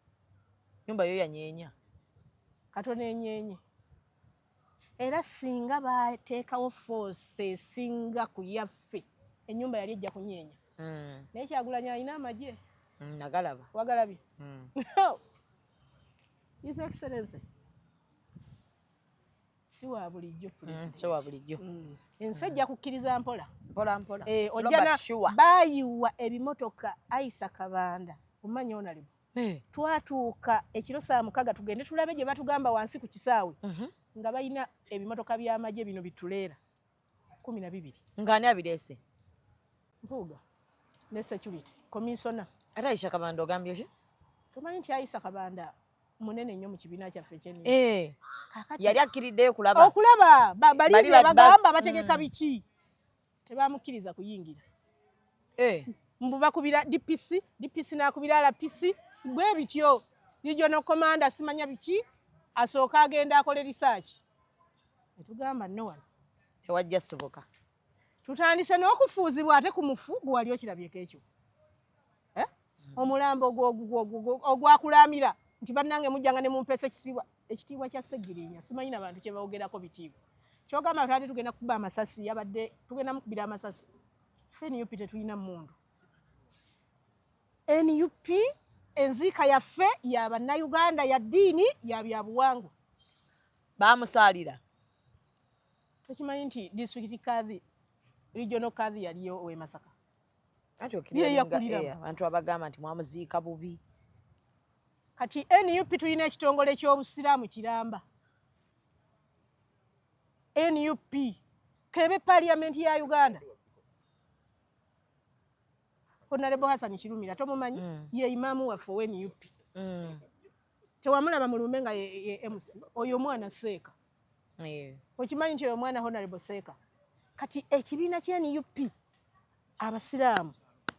Nyumba yo yanyeenya. Katono enyeenye. Era singa baateekawo force esinga ku yaffe ennyumba yali ejja kunyeenya. Mm. Naye Kyagulanyi alina amagye. Mm, nagalaba. Wagalabye? Mm. His Excellency. si wa bulijjo mm, si wa bulijjo mm. ensi ejja kukkiriza mpola mpola mpola eh, ojjana baayiwa ebimotoka ayisa kabanda omanya onalibu eh. twatuuka ekiro saa mukaga tugende tulabe gye batugamba wansi ku kisaawe mhm. nga balina ebimotoka by'amagye bino bituleera kumi na bibiri ng'ani abireese mpuuga ne security komisona ate ayisha kabanda ogambye ki tomanyi nti ayisa kabanda munene nnyo mu kibiina kyaffe kyenni eh. yali akkiriddeyo kulaba okulaba bali bagamba bategeka mm. biki tebamukkiriza kuyingira eh. mbu bakubira dpc dpc nakubira lpc bwe bityo regional commander simanya biki asooka agenda akole risaaki etugamba no one tewajja soboka tutandise n'okufuuzibwa ate ku mufu gwe wali okirabyeko ekyo eh? omulambo ogwakulamira nti bannange mujjanga ne mumpeesa ekisiibwa ekitiibwa kya segirinya simanyi na bantu kye bawogerako bitiibwa kyogamba tubadde tugenda kukuba amasasi yabadde tugenda mukubira amasasi fe nup tetulina mundu nup enziika yaffe ya bannauganda ya ddiini ya byabuwangwa baamusaalira tokimanyi nti disitulikiti kadhi regional kadhi yaliyo owe masaka abantu abagamba nti mwamuziika bubi kati nup tulina ekitongole ky'obusiraamu kiramba nup kebe parliament ya uganda Honorable Hassan Kirumira tomumanyi mm. ye imaamu waffe owe nup mm. tewamulaba mulumbe nga ye MC oyo omwana seeka yeah. okimanyi nti oyo omwana Honorable seeka kati ekibiina kya nup abasiraamu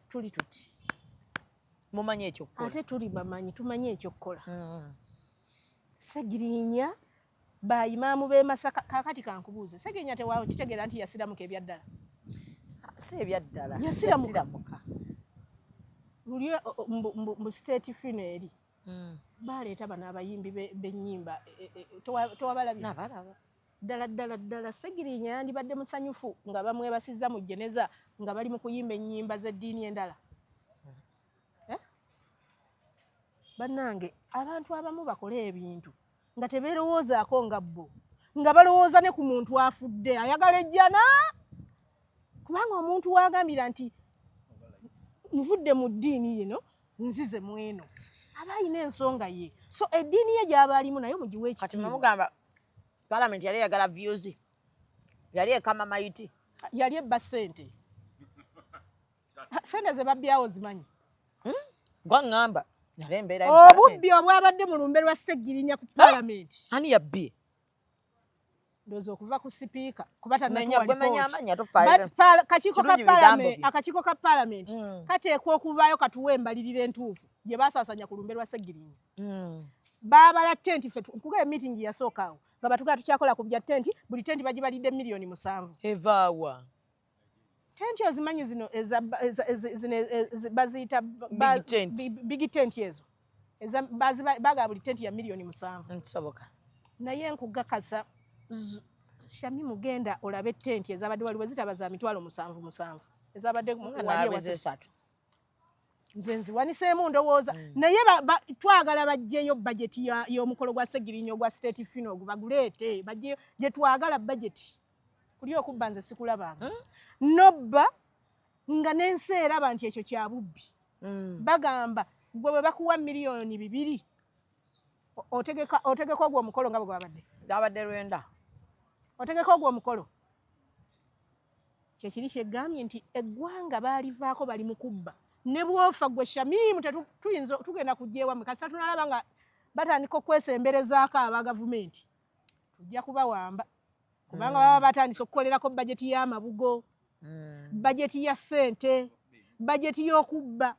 tuli tuti mumanyi ekyokukola ate tuli bamanyi tumanyi ekyokukola mm. segirinya Ba imaamu b'e Masaka, kaakati kankubuuze, Ssegirinya tewakitegeera nti yasiramuka ebyaddala? Si ebyaddala, yasiramuka luli mbu state fino eri hmm. baleeta bano abayimbi b'ennyimba e, e, e, towabalabye ddala ddala ddala Ssegirinya yandibadde musanyufu nga bamwebasizza mu jeneza nga bali mu kuyimba ennyimba z'eddiini endala eh? bannange abantu abamu bakola ebintu nga tebeerowoozaako nga bbo nga balowooza ne ku muntu afudde ayagala ejjana kubanga omuntu waagambira nti nvudde mu ddiini yino nzize mu eno aba alina ensonga ye so eddiini ye gyaba alimu naye mugiwe ekitimugamba palamenti yali eyagala vyuzi yali ekama mayiti yali ebba sente sente ze babbyawo zimanyi hmm? gwaŋŋamba nale embeera obubbi obwabadde mu lumbe lwa ssegirinya ku palamenti ani yabbye ndoza okuva ku sipiika kuba tanatuwalikakiiko ka palamenti akakiiko ka palamenti hmm. kateekwa okuvaayo katuwa embalirira entuufu gye basaasanya ku lumbe lwa ssegirinya hmm. baabala tenti fe nkuga emitingi yasooka awo nga batugala tukyakola ku bya tenti buli tenti bagibalidde miliyoni musanvu evaawa tenti ozimanyi zino baziyita bigi tenti ezo baga buli tenti ya miliyoni musanvu nsoboka naye nkugakasa shami mugenda olabe tenti ezabadde waliwo zitaba za mitwalo musanvu musanvu ezabadde waliwasatu nze nziwaniseemu ndowooza mm. naye twagala bajjeyo bajeti y'omukolo gwa segirinya ogwa state fino ogu baguleete bajjeyo gyetwagala bajeti kulya okubba nze sikulabanga hmm? nobba nga n'ensi eraba nti ekyo kya bubbi hmm. bagamba gwe bwe bakuwa miliyoni bibiri otegeka ogwo omukolo nga bwe gwabadde gwabadde lwenda otegeka ogwo omukolo kyekiri kyegambye nti eggwanga baalivaako bali mu kubba ne bwofa gwe shamimu tetuyinza tugenda kujja ewamwe kasita tunalaba nga batandika okwesemberezaako aba gavumenti tujja kubawamba kubanga baba batandise okukolerako bajeti y'amabugo hmm. bajeti ya ssente bajeti y'okubba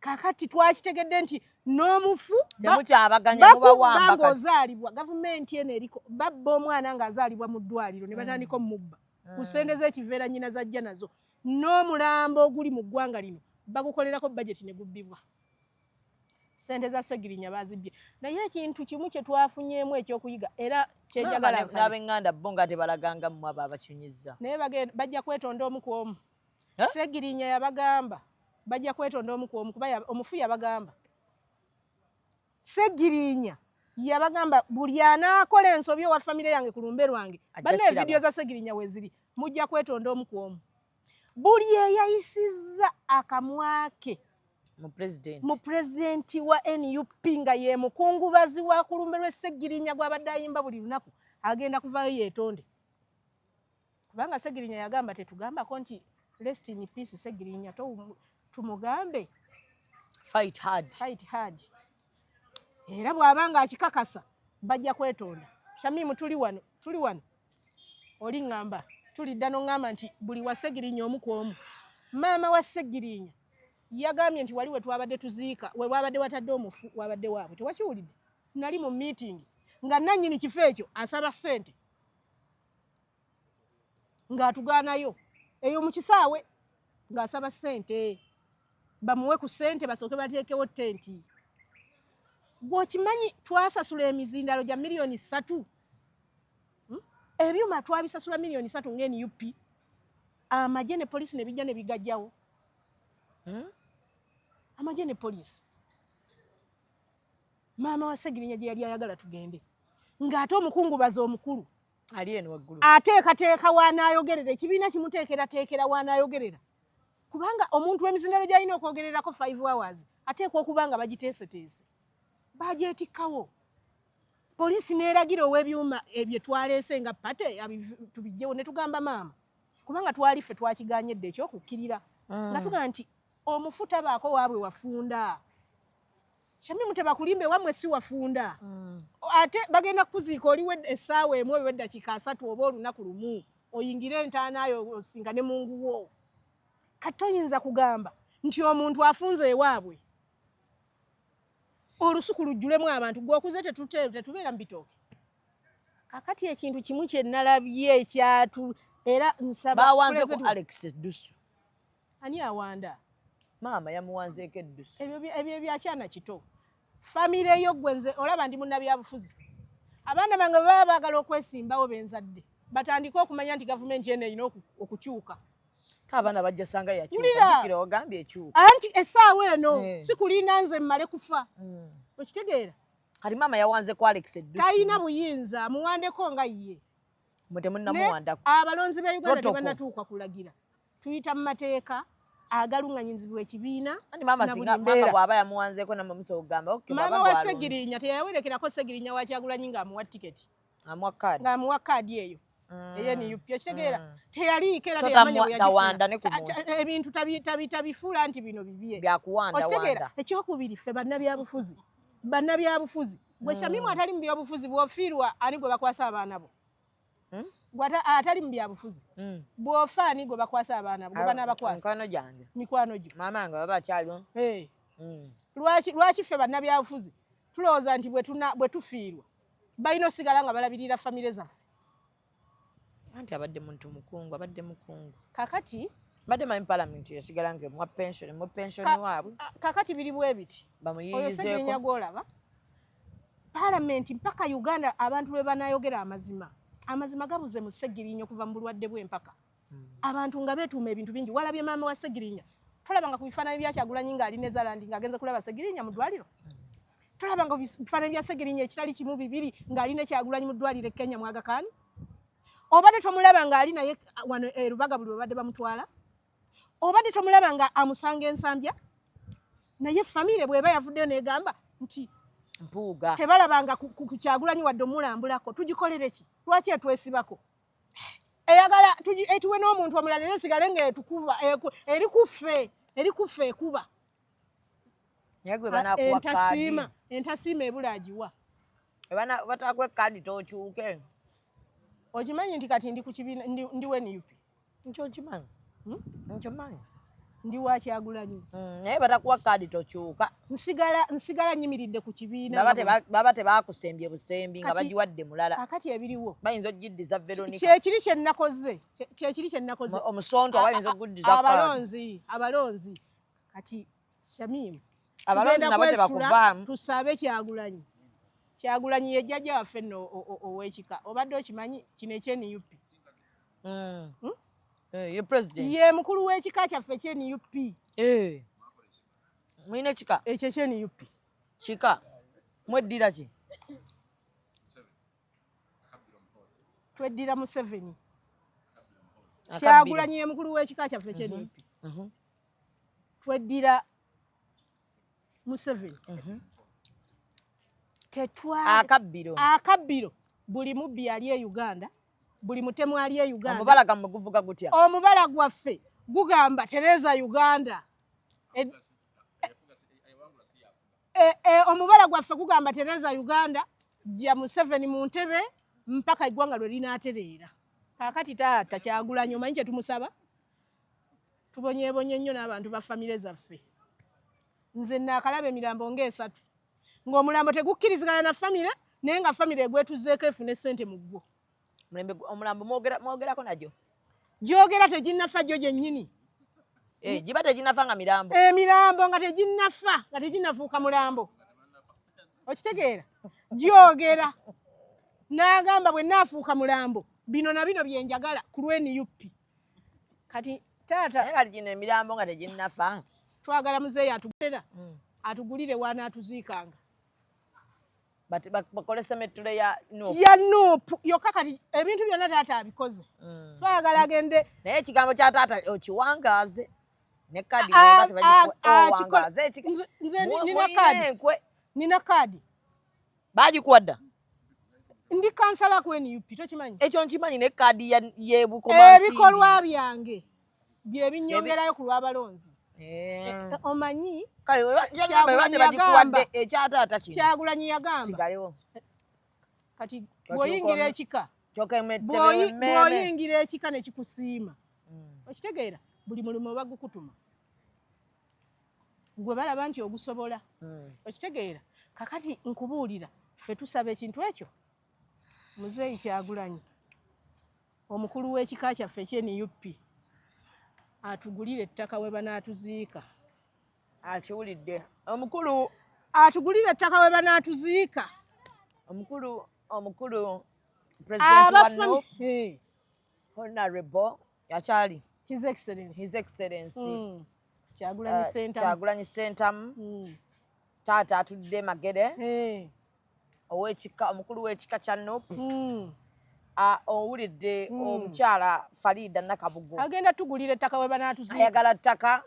kakati twakitegedde nti n'omufu bakubanga ozaalibwa gavumenti eno eriko babba omwana ng'azaalibwa mu ddwaliro ne hmm. batandika omubba ku hmm. sente z'ekiveera nnyina zajja nazo n'omulambo oguli mu ggwanga lino bagukolerako bajeti ne gubbibwa sente za segirinya bazibye naye ekintu kimu kyetwafunyemu ekyokuyiga era kyejagalanabeŋŋanda bo nga tebalaganga mu abo abakinyizza naye bajja kwetonda omu ku omu segirinya yabagamba bajja kwetonda omu ku omu kuba omufu yabagamba segirinya yabagamba buli anaakola ensobi owa famire yange ku lumbe lwange banna evidiyo za segirinya weziri mujja kwetonda omu ku omu buli eyayisizza akamwa ke mu pulezidenti wa nup nga ye mukungubazi wa ku lumbe lw'esseggirinya gw'abadde ayimba buli lunaku agenda kuvaayo yeetonde kubanga ssegirinya yagamba tetugambako nti rest in peace ssegirinya tumugambe fight hard fight hard era bw'aba nga akikakasa bajja kwetonda shamimu tuli wano tuli wano oli ŋŋamba tulidda n'oŋŋamba nti buli wa ssegirinya omu ku omu maama wa ssegirinya yagambye nti wali we twabadde tuziika we waabadde watadde omufu waabadde waabwe tewakiwulidde nali mu miitingi nga nannyini kifo ekyo asaba ssente ng'atugaanayo eyo mu kisaawe ng'asaba ssente bamuwe ku sente basooke bateekewo tenti gwokimanyi twasasula emizindalo gya miliyoni satu hmm? ebyuma twabisasula miliyoni satu nga nup amagye ne polisi nebijja nebigajjawo hmm? amagye ne polisi maama wa segirinya gye yali ayagala tugende ng'ate omukungubazi omukulu ateekateeka w'anaayogerera ekibiina kimuteekerateekera w'anaayogerera kubanga omuntu w'emizindalo gy'alina okwogererako five hours ateekwa okuba nga bagiteeseteese bagyetikkawo poliisi neeragira ow'ebyuma ebye twaleese nga pate tubijjewo ne tugamba maama kubanga twali ffe twakiganye dde ekyokukkirira mm. nga tuga nti omufu tabaako waabwe wafunda Shamimu tebakulimba ewamwe si wafunda mm. ate bagenda kukuziika oliwo essaawa emu oba eddakiika asatu oba olunaku lumu oyingire entaanayo osinga ne munguwo kati toyinza kugamba nti omuntu afunze ewaabwe olusuku lujjulemu abantu gweokuze tetubeera mu bitooke kakati ekintu kimu kyenalabye ekyatu era nsaba bawanze ku alex dusu Ani awanda? Maama yamuwanzeeko eddusu. Ebyo ebyo bya kyana kito. Famire yo gwe nze olaba ndi munnabyabufuzi. Abaana bange bwe baba baagala okwesimbawo benzadde batandike okumanya nti gavumenti eno erina okukyuka. Abaana bajja sanga yakyuka ogambye ekyuka. Anti essaawa eno eh. sikulinda nze mmale kufa. Hmm. Okitegeera? Kati maama yawanze ku Alex eddusu. Talina buyinza amuwandeko nga ye. Mwe temunnamuwandako. Abalonzi ba Uganda tebanatuuka kulagira. tuyita mu mateeka agalunganyizibwa ekibiina maama wa segirinya teyawerekerako segirinya wakyagulanyi ngaamuwa tiketi ngaamuwa kaadi eyo mm. eyenup okitegeera mm. teyaliiko era ebintu tabifuula nti bino bibye okitegeera ekyokubiri ffe bannabyabufuzi bannabyabufuzi gwe mm. shamimu atali mu byobufuzi bwofiirwa ani gwe bakwasa abaana bo hmm? gwata atali mu byabufuzi hmm. bwofa ani gwe bakwasa abaana gwe banaabakwasa mikwano gyange mikwano gyo maama nga baba akyaliwo eh. hmm. lwaki lwaki ffe bannabyabufuzi tulowooza nti bwe tufiirwa balina osigala nga balabirira famire zaffe anti abadde muntu mukungu abadde mukungu kakati mbadde manyi palamenti esigala nga emwa pensioni mu pensioni waabwe kakati biri bwebiti bamuyiyizeeko oyo senyenya gwolaba palamenti mpaka uganda abantu lwe banayogera amazima amazima gabuze mu segirinya okuva mu bulwadde bw'empaka hmm. abantu nga beetuuma ebintu bingi walabye maama wa segirinya tolabanga ku bifaananyi bya kyagulanyi ng'ali ne zalandi ng'agenze kulaba segirinya mu ddwaliro hmm. tolabanga bifaananyi bya segirinya ekitali kimu bibiri ng'ali ne kyagulanyi mu ddwaliro e kenya mwagakaani obadde tomulaba ng'ali naye wano erubaga eh, buli babadde bamutwala obadde tomulaba nga amusanga ensambya naye famire bweba yavuddeyo negamba nti mpuuga tebalabanga kukyagulanyi wadde omulambulako tugikolere ki lwaki etwesibako eyagala etuwe n'omuntu omulala era esigale nga etukuva eri kuffe eri kuffe ekuba entasiima entasiima ebula agiwa batakuwa ekkaadi tokyuke okimanyi nti kati ndi ku kibiina ndi wenup nkyo nkimanyi hmm? nkimanyi ndi wakyagulanyi hmm, naye batakuwa kaadi tokyuka nsigala nsigala nyimiridde ku kibiina baba tebakusembye busembi nga bagiwadde mulala akati ebiriwo bayinza okugiddiza veronica kyekiri kyenakoze kyekiri kyenakoze omusonto abayinza okuguddiza abalonzi abalonzi kati shamim abalonzi nabo tebakuvaamu tusabe kyagulanyi kyagulanyi yejjaja waffe no owekika obadde okimanyi kino ekyenup mm. hmm? eh, ye president ye mukulu w'ekika kyaffe kye nup eh. mulina ekika ekyo kye nup kika mweddira ki tweddira museveni kyagulanyi ye mukulu w'ekika kyaffe kye mhm. nup mhm. tweddira museveni mhm. tetwa akabbiro akabbiro buli mubbi yali e uganda buli mutemu ali e uganda omubala gamwe guvuga gutya omubala gwaffe gugamba tereza uganda e, e, e, omubala gwaffe gugamba tereza uganda ja museveni mu ntebe mpaka eggwanga lwe linaatereera kakati taata kyagulanyo omanyi kye tumusaba tubonyebonye nnyo n'abantu ba famire zaffe nze naakalaba emirambo ng'esatu ng'omulambo tegukkirizigana na famire naye nga famire egwetuzeeko efune ssente mu ggwo omulambo mwogerako nagyo gyogera teginnafa gyo gyennyini eh, giba teginnafa nga mirambo emirambo eh, nga teginnafa nga teginnafuuka mulambo okitegeera gyogera n'agamba bwe naafuuka mulambo bino na bino bye njagala ku lw'eniyuppi kati taata naye kati gino emirambo nga teginnafa twagala muzeeyi atugulira hmm. atugulire waana atuziikanga bakole semettule ya ya nuupu yokka kati ebintu byonna taata abikoze hmm. twagala agende naye ekigambo kya taata okiwangaaze ne kaadi nina kaadi baagikuwa dda ndi kansala ku nup tokimanyi ekyo nkimanyi ne kaadi yebukomansi ebikolwa byange bye binyongerayo ku lw'abalonzi eh. Eh, omanyi kyagulanyi yagamba kati bwoyingira ekika bwoyingira ekika nekikusiima mm. okitegeera buli mulimu bagukutuma gwe balaba nti ogusobola hmm. okitegeera kakati nkubuulira ffe tusaba ekintu ekyo muzeeyi kyagulanyi omukulu w'ekika kyaffe ekyenup atugulire ettaka we banaatuziika akiwulidde omukulu atugulire ettaka we banaatuziika omukulu omukulu president wanu honorable akyali his excellence his excellence mm. kyagulanyi uh, sentamu kyagulanyi sentamu mm. taata atudde magere hey. owekika omukulu wekika kya nup mm. owulidde mm. omukyala farida nakabugo agenda tugulira ettaka webanatuzi ayagala ttaka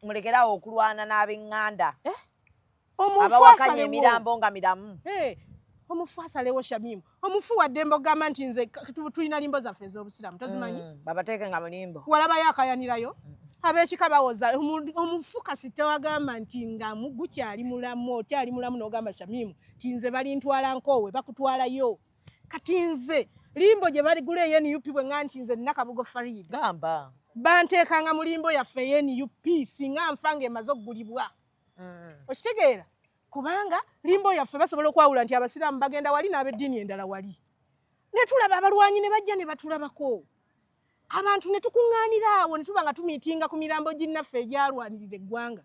mulekerawo okulwana n'abenganda eh? abawakanya emirambo nga miramu eh, omufu asalewo shamimu omufu wadde mbogamba nti nze tulina limbo zaffe ez'obusiramu tozimanyi mm, babateeke nga mulimbo walabayo akayanirayo mm. abekika bawoza omufu kasita wagamba nti nga gukyali mulamu okyali mulamu nogamba shamimu nti nze balintwala nkoowe bakutwalayo kati nze limbo gye baligula eye nup bwe nga nti nze nina kabugo farid gamba banteekanga mu limbo yaffe eye nup singa nfa nga emaze okugulibwa mm. okitegeera kubanga limbo yaffe basobola okwawula nti abasiraamu bagenda wali n'abeddiini endala wali netulaba abalwanyi ne bajja ne batulabako abantu ne tukuŋŋaanira awo ne tuba nga tumiitinga ku mirambo ginnaffe egyalwanirira eggwanga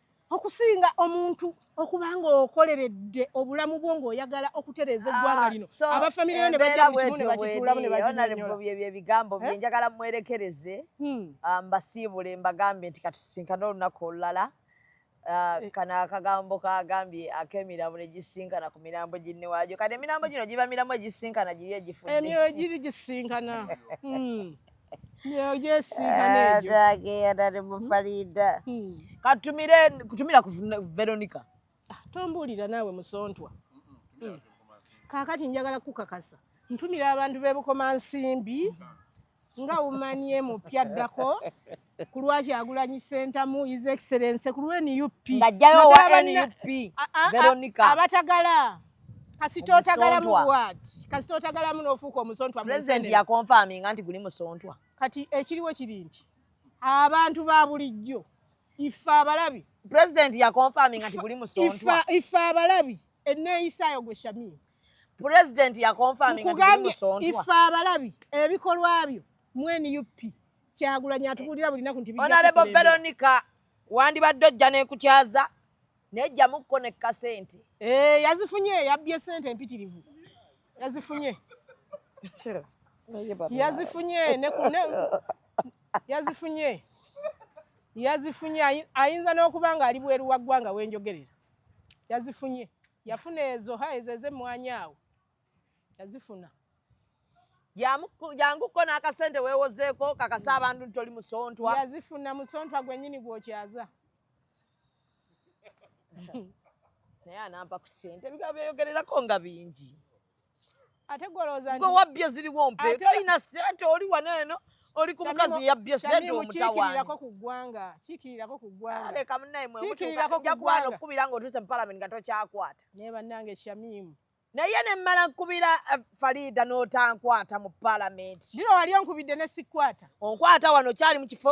okusinga omuntu okuba ng'okoleredde obulamu bwo ng'oyagala okutereeza ah, eggwanga lino abafamire yo ne bajja mu kimu ne bakituulamu ne bakinyonyola ebigambo bye eh? njagala mwerekereze hmm. ah, mbasiibule mbagambe nti katusinkane olunaku olulala ah, eh. kano akagambo kagambye ak'emirambo ne gisinkana ku mirambo ginne waajo kati emirambo gino giba mirambo egisinkana giri egifuemyoyo giri gisinkana hmm. agenda ne mufaliida katumire kutumira ku veronica ah, tombuulira naawe musontwa hmm. kaakati njagala kukakasa ntumira abantu b'ebukoma nsimbi nga umanie mupya addako ku lwaki agulanyi sentamu is excellence ku lwnup ngajjayo wa nup veronica abatagala kasita otagalamu what kasita otagalamu n'ofuuka omusontwa president ya confirming anti guli musontwa kati ekiriwo kiri nti abantu ba bulijjo ife abalabi president ya confirming anti guli musontwa ife abalabi enneeyisaayo gwe shamir president ya confirming anti guli musontwa ife abalabi ebikolwa byo mu nup kyagulanyi atukulira buli naku nti honorable veronica wandibadde ojja nekukyaza naye jjamukko ne kasente eh, yazifunye yabbye sente empitirivu yazifunye yazifunye yazifunye yazifunye ayinza n'okuba ng'ali bweru wa ggwanga wenjogerera yazifunye yafuna ezo ha ezo ez'emmwanyi awo yazifuna janguko n'akasente weewozeeko kakasa abantu nti oli musontwa yazifunna musontwa gwennyini gwokyaza naye anampa ku sente ebigambo byeyogererako nga bingi ate gwolowooza gwe wabbye ziriwo mpe tolina sente oli wano eno oli ku mukazi yabbye sente omutawaaniko ku ggwanga kiikirirako ku ggwanga leka munaye mwemutuukaja kubana okukubira nga otuuse mu palamenti nga tokyakwata naye bannange shamimu naye ne mmala nkubira eh, fariida n'otankwata mu palamenti ndiro wali onkubidde ne sikwata onkwata wano kyali mu kifo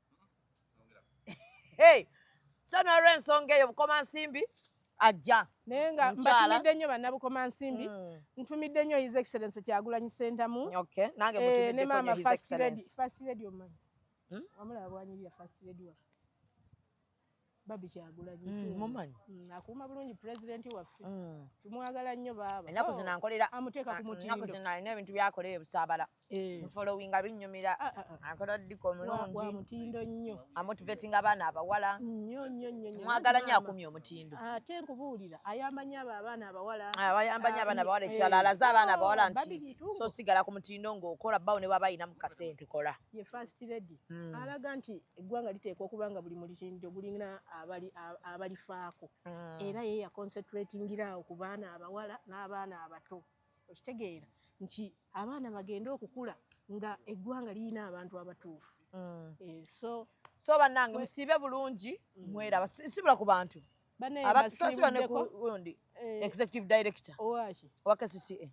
hey so nolwensonga eyo bukoma nsimbi ajja naye nga mbatumidde nnyo bannabukoma nsimbi mm. ntumidde nnyo his excellence kyagulanyi sentamu eh, ne maama first lady omanyi hmm? wamulaba bwanyirira first lady waffe babi kyagulanyi mm, mumanyi mm, akuuma bulungi pulezidenti waffe mm. tumwagala nnyo baaba enaku oh, zinankolera amuteeka ku ah, mutindo zino alina ebintu byakola eyo busaabala eh. mufolowinga binnyumira ah, ah, akola ddika omulungi mutindo nnyo amotivatinga abaana abawala nnyo nnyo nnyo mwagala nnyo akumye omutindo ate nkubuulira ayambanyo abo abaana abawala ayambanyo abaana abawala ekirala eh. alaze abaana abawala nti so sigala ku mutindo ng'okola bawo ne baba ayinamu kasente kola ye first lady hmm. alaga nti eggwanga liteekwa okuba nga buli mulikinjo gulina abalifaako mm. era ye yaconcentratingiraawo ku baana abawala n'abaana abato okitegeera nti abaana bagende okukula nga eggwanga lirina abantu abatuufu mm. eh, so so bannange musiibe bulungi mm. mweraba sibula ku bantu abasiba ne kundi eh. executive director owa kcca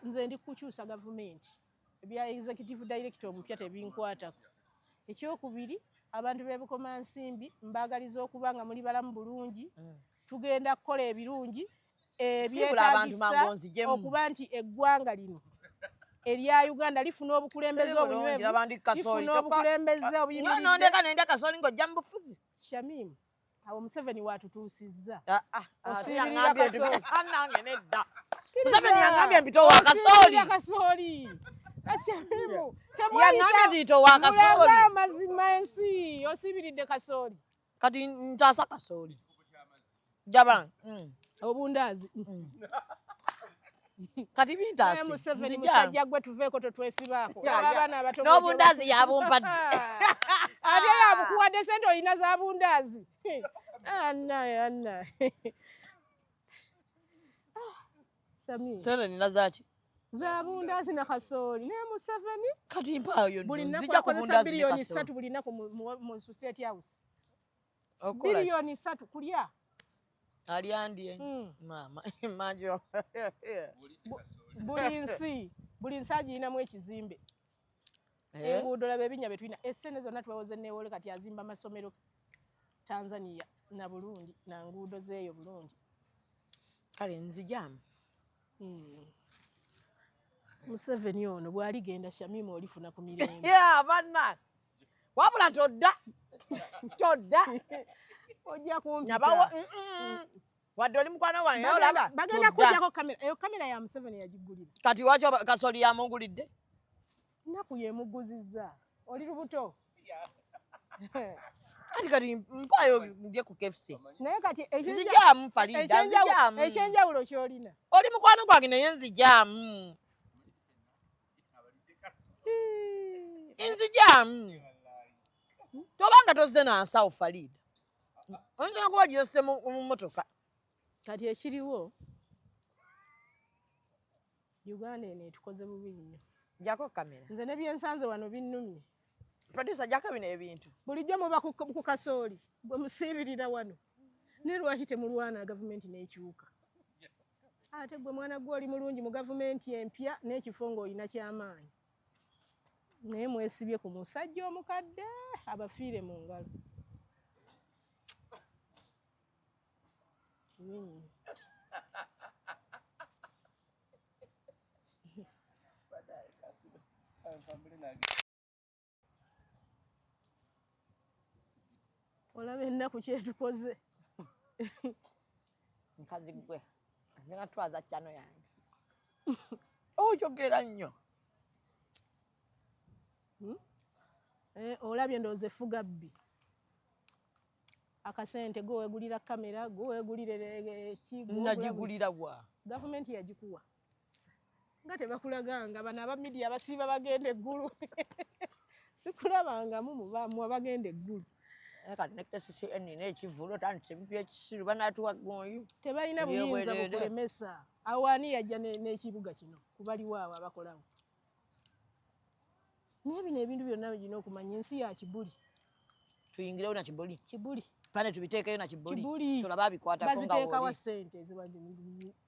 nze ndi kukyusa gavumenti Ebya Executive Director omupya tebinkwatako. Ekyokubiri abantu b'e Bukomansimbi mbaagaliza okuba nga muli balamu bulungi, mm. tugenda kukola ebirungi ebyetaagisa eh, okuba nti eggwanga lino erya Uganda lifuna obukulembeze obunywevu, lifuna obukulembeze obuyimiridde. Nondeka nenda kasoli ng'ojja mu bufuzi. Shamim, awo museveni watutuusizza ah, ah, ah, anange nedda museveni yangambye mpitowa kasooli kasooli yangambye titowa kasooli amazima ensi osibiridde kasooli kati ntaasa kasooli jaban mm. obundaazi mm. kati bintasi museveni musajja gwe tuveeko totwesibaako abaana abato n'obundaazi yabumpadde ate yabukuwadde sente olina za bundaazi anaye ah, anaye ah, sente nina zaki za bundaazi na kasooli naye museveni kati mpaayo nzija ku bundaazi ne kasooli buli nnaku akozesa biliyoni ssatu buli nnaku mu state house Milioni satu kulya. Aliandie. Mm. Mama, imagine. Buli nsi, buli nsi agiyinamu ekizimbe. Eh? Enguudo laba ebinya betulina. Esene zonna twewoze newole kati azimba masomero Tanzania na Burundi na nguudo zeeyo Burundi. Kale nzijamu. Mm. Museveni ono bwaligenda Shamima olifuna ku mirembe. Yeah, banna. wabula todda todda ojja kumpitabawo mm, mm, mm. wadde oli mukwano wange olaba bagenda kujjako kamera eyo kamera ya museveni yagigulira kati waki kasoli yamugulidde nnaku yemuguzizza oli lubuto kati kati mpayo nje ku KFC naye kati ekijamu Farida ekijamu ekyenjawulo kyolina oli mukwano gwange naye nzijamu inzijamu hmm. tobanga tozze na nsawo faliida oyinza nakuba gyesse mu motoka kati ekiriwo uganda eno etukoze bubi nnyo jako kamera nze nebyensanze wano binnumye producer jako bino ebintu bulijjo muba ku kasooli gwe musiibirira wano ne lwaki temulwana gavumenti n'ekyuka ate gwe mwana gwe oli mulungi mu gavumenti empya n'ekifo ng'olina kyamaanyi naye mwesibye ku musajja omukadde abafiire mu ngalo hmm. olaba ennaku kyetukoze nkazi gwe nga twaza kyano yange oyogera nnyo hmm? eh, olabye ndowooza efuga bbi akasente gwe wegulira kamera gwe wegulira ekigulira wa gavumenti yagikuwa nga tebakulaganga bano aba midiya abasiiba bagenda eggulu sikulabangamu mubamu abagenda eggulu eh, kati nekesisi enina ekivulu otandise ebintu ekisiru banatuwa gonyi tebalina buyinza bukulemesa awo ani yajja n'ekibuga kino kubaliwo awo abakolawo naye bino ebintu byonna bigina okumanya ensi ya kibuli tuyingirewo na kibuli kibuli pane tubiteekeyo na kibuli tulabe abikwatakoziteekawa sente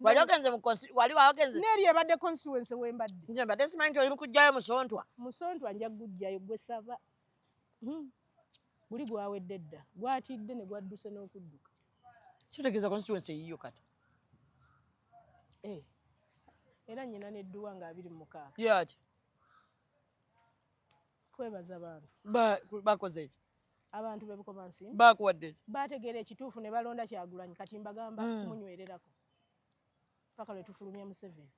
wali ogenze mukosi wali wagenze neri ebadde constituency wembadde nze mbadde simanyi nti oli mukujjayo musontwa musontwa nja kugujjayo gwe saba hmm. guli gwawedde dda gwatidde ne gwadduse n'okudduka kitegeeza constituency eyiyo kati eh. era nyina nedduwa nga abiri mumukaaga yaki kwebaza bantu bakoze eki abantu bebukomansi bakuwadde bategeera ekituufu ne balonda kyagulanyi kati mbagamba mm. munywererako paka lwe tufulumya museveni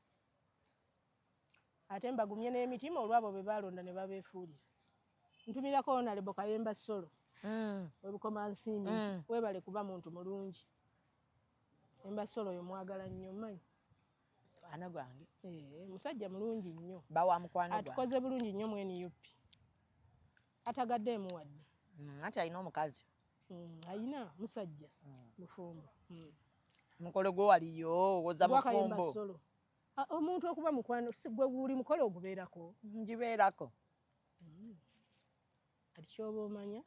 ate mbagumye n'emitima olwabo be balonda ne babeefuulira ntumirako onalebo kayemba solo mm. webukoma nsimbi mm. webale kuba muntu mulungi emba solo oyo mwagala nnyo manyi ana gwange eh, musajja mulungi nnyo bawa mukwano atukoze bulungi nnyo mweniupi atagadeemu wadde mm, anti alina omukazi mm, alina musajja mm. mufumbo mm. mukolo gwe waliyo owoza mufumbo omuntu okuba mukwano gwe guli mukolo ogubeerako ngibeerako mm. kati kyoba omanya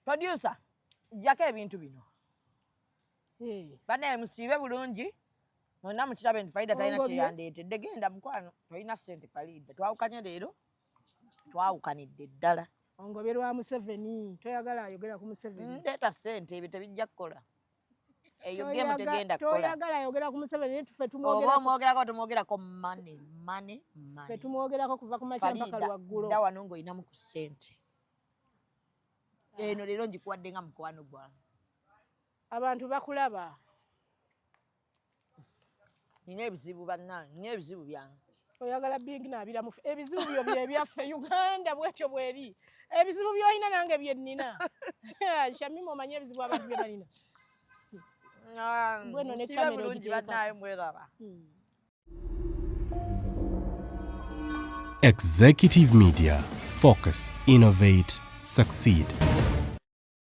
producer jjako ebintu bino hey. banaye musiibe bulungi mwena mukirabe nti faida talina kyeyandeetedde genda mukwano tolina sente palida twawukanye leero twawukanidde ddala ongobye lwa museveni toyagala ayogera ku museveni ndeeta sente ebyo tebijja kukola eyo gemu tegenda kukolatoyagala ayogera ku museveni naye tufe tumwogerako oba omwogerako tumwogerako mane mane mane fe tumwogerako kuva ku makya mpaka lwaggulo fariida wano ng'olinamu ku sente eno leero ngikuwadde nga mukwano gwange abantu bakulaba nina ebizibu bannange nina ebizibu byange oyagala bingi nabiramu ebizibu byo byebyaffe uganda bwekyo bweri ebizibu byolina nange byenina shamima omanye ebizibu abantu byebalina sibe bulungi bannaye mweraba hmm. Executive Media Focus Innovate Succeed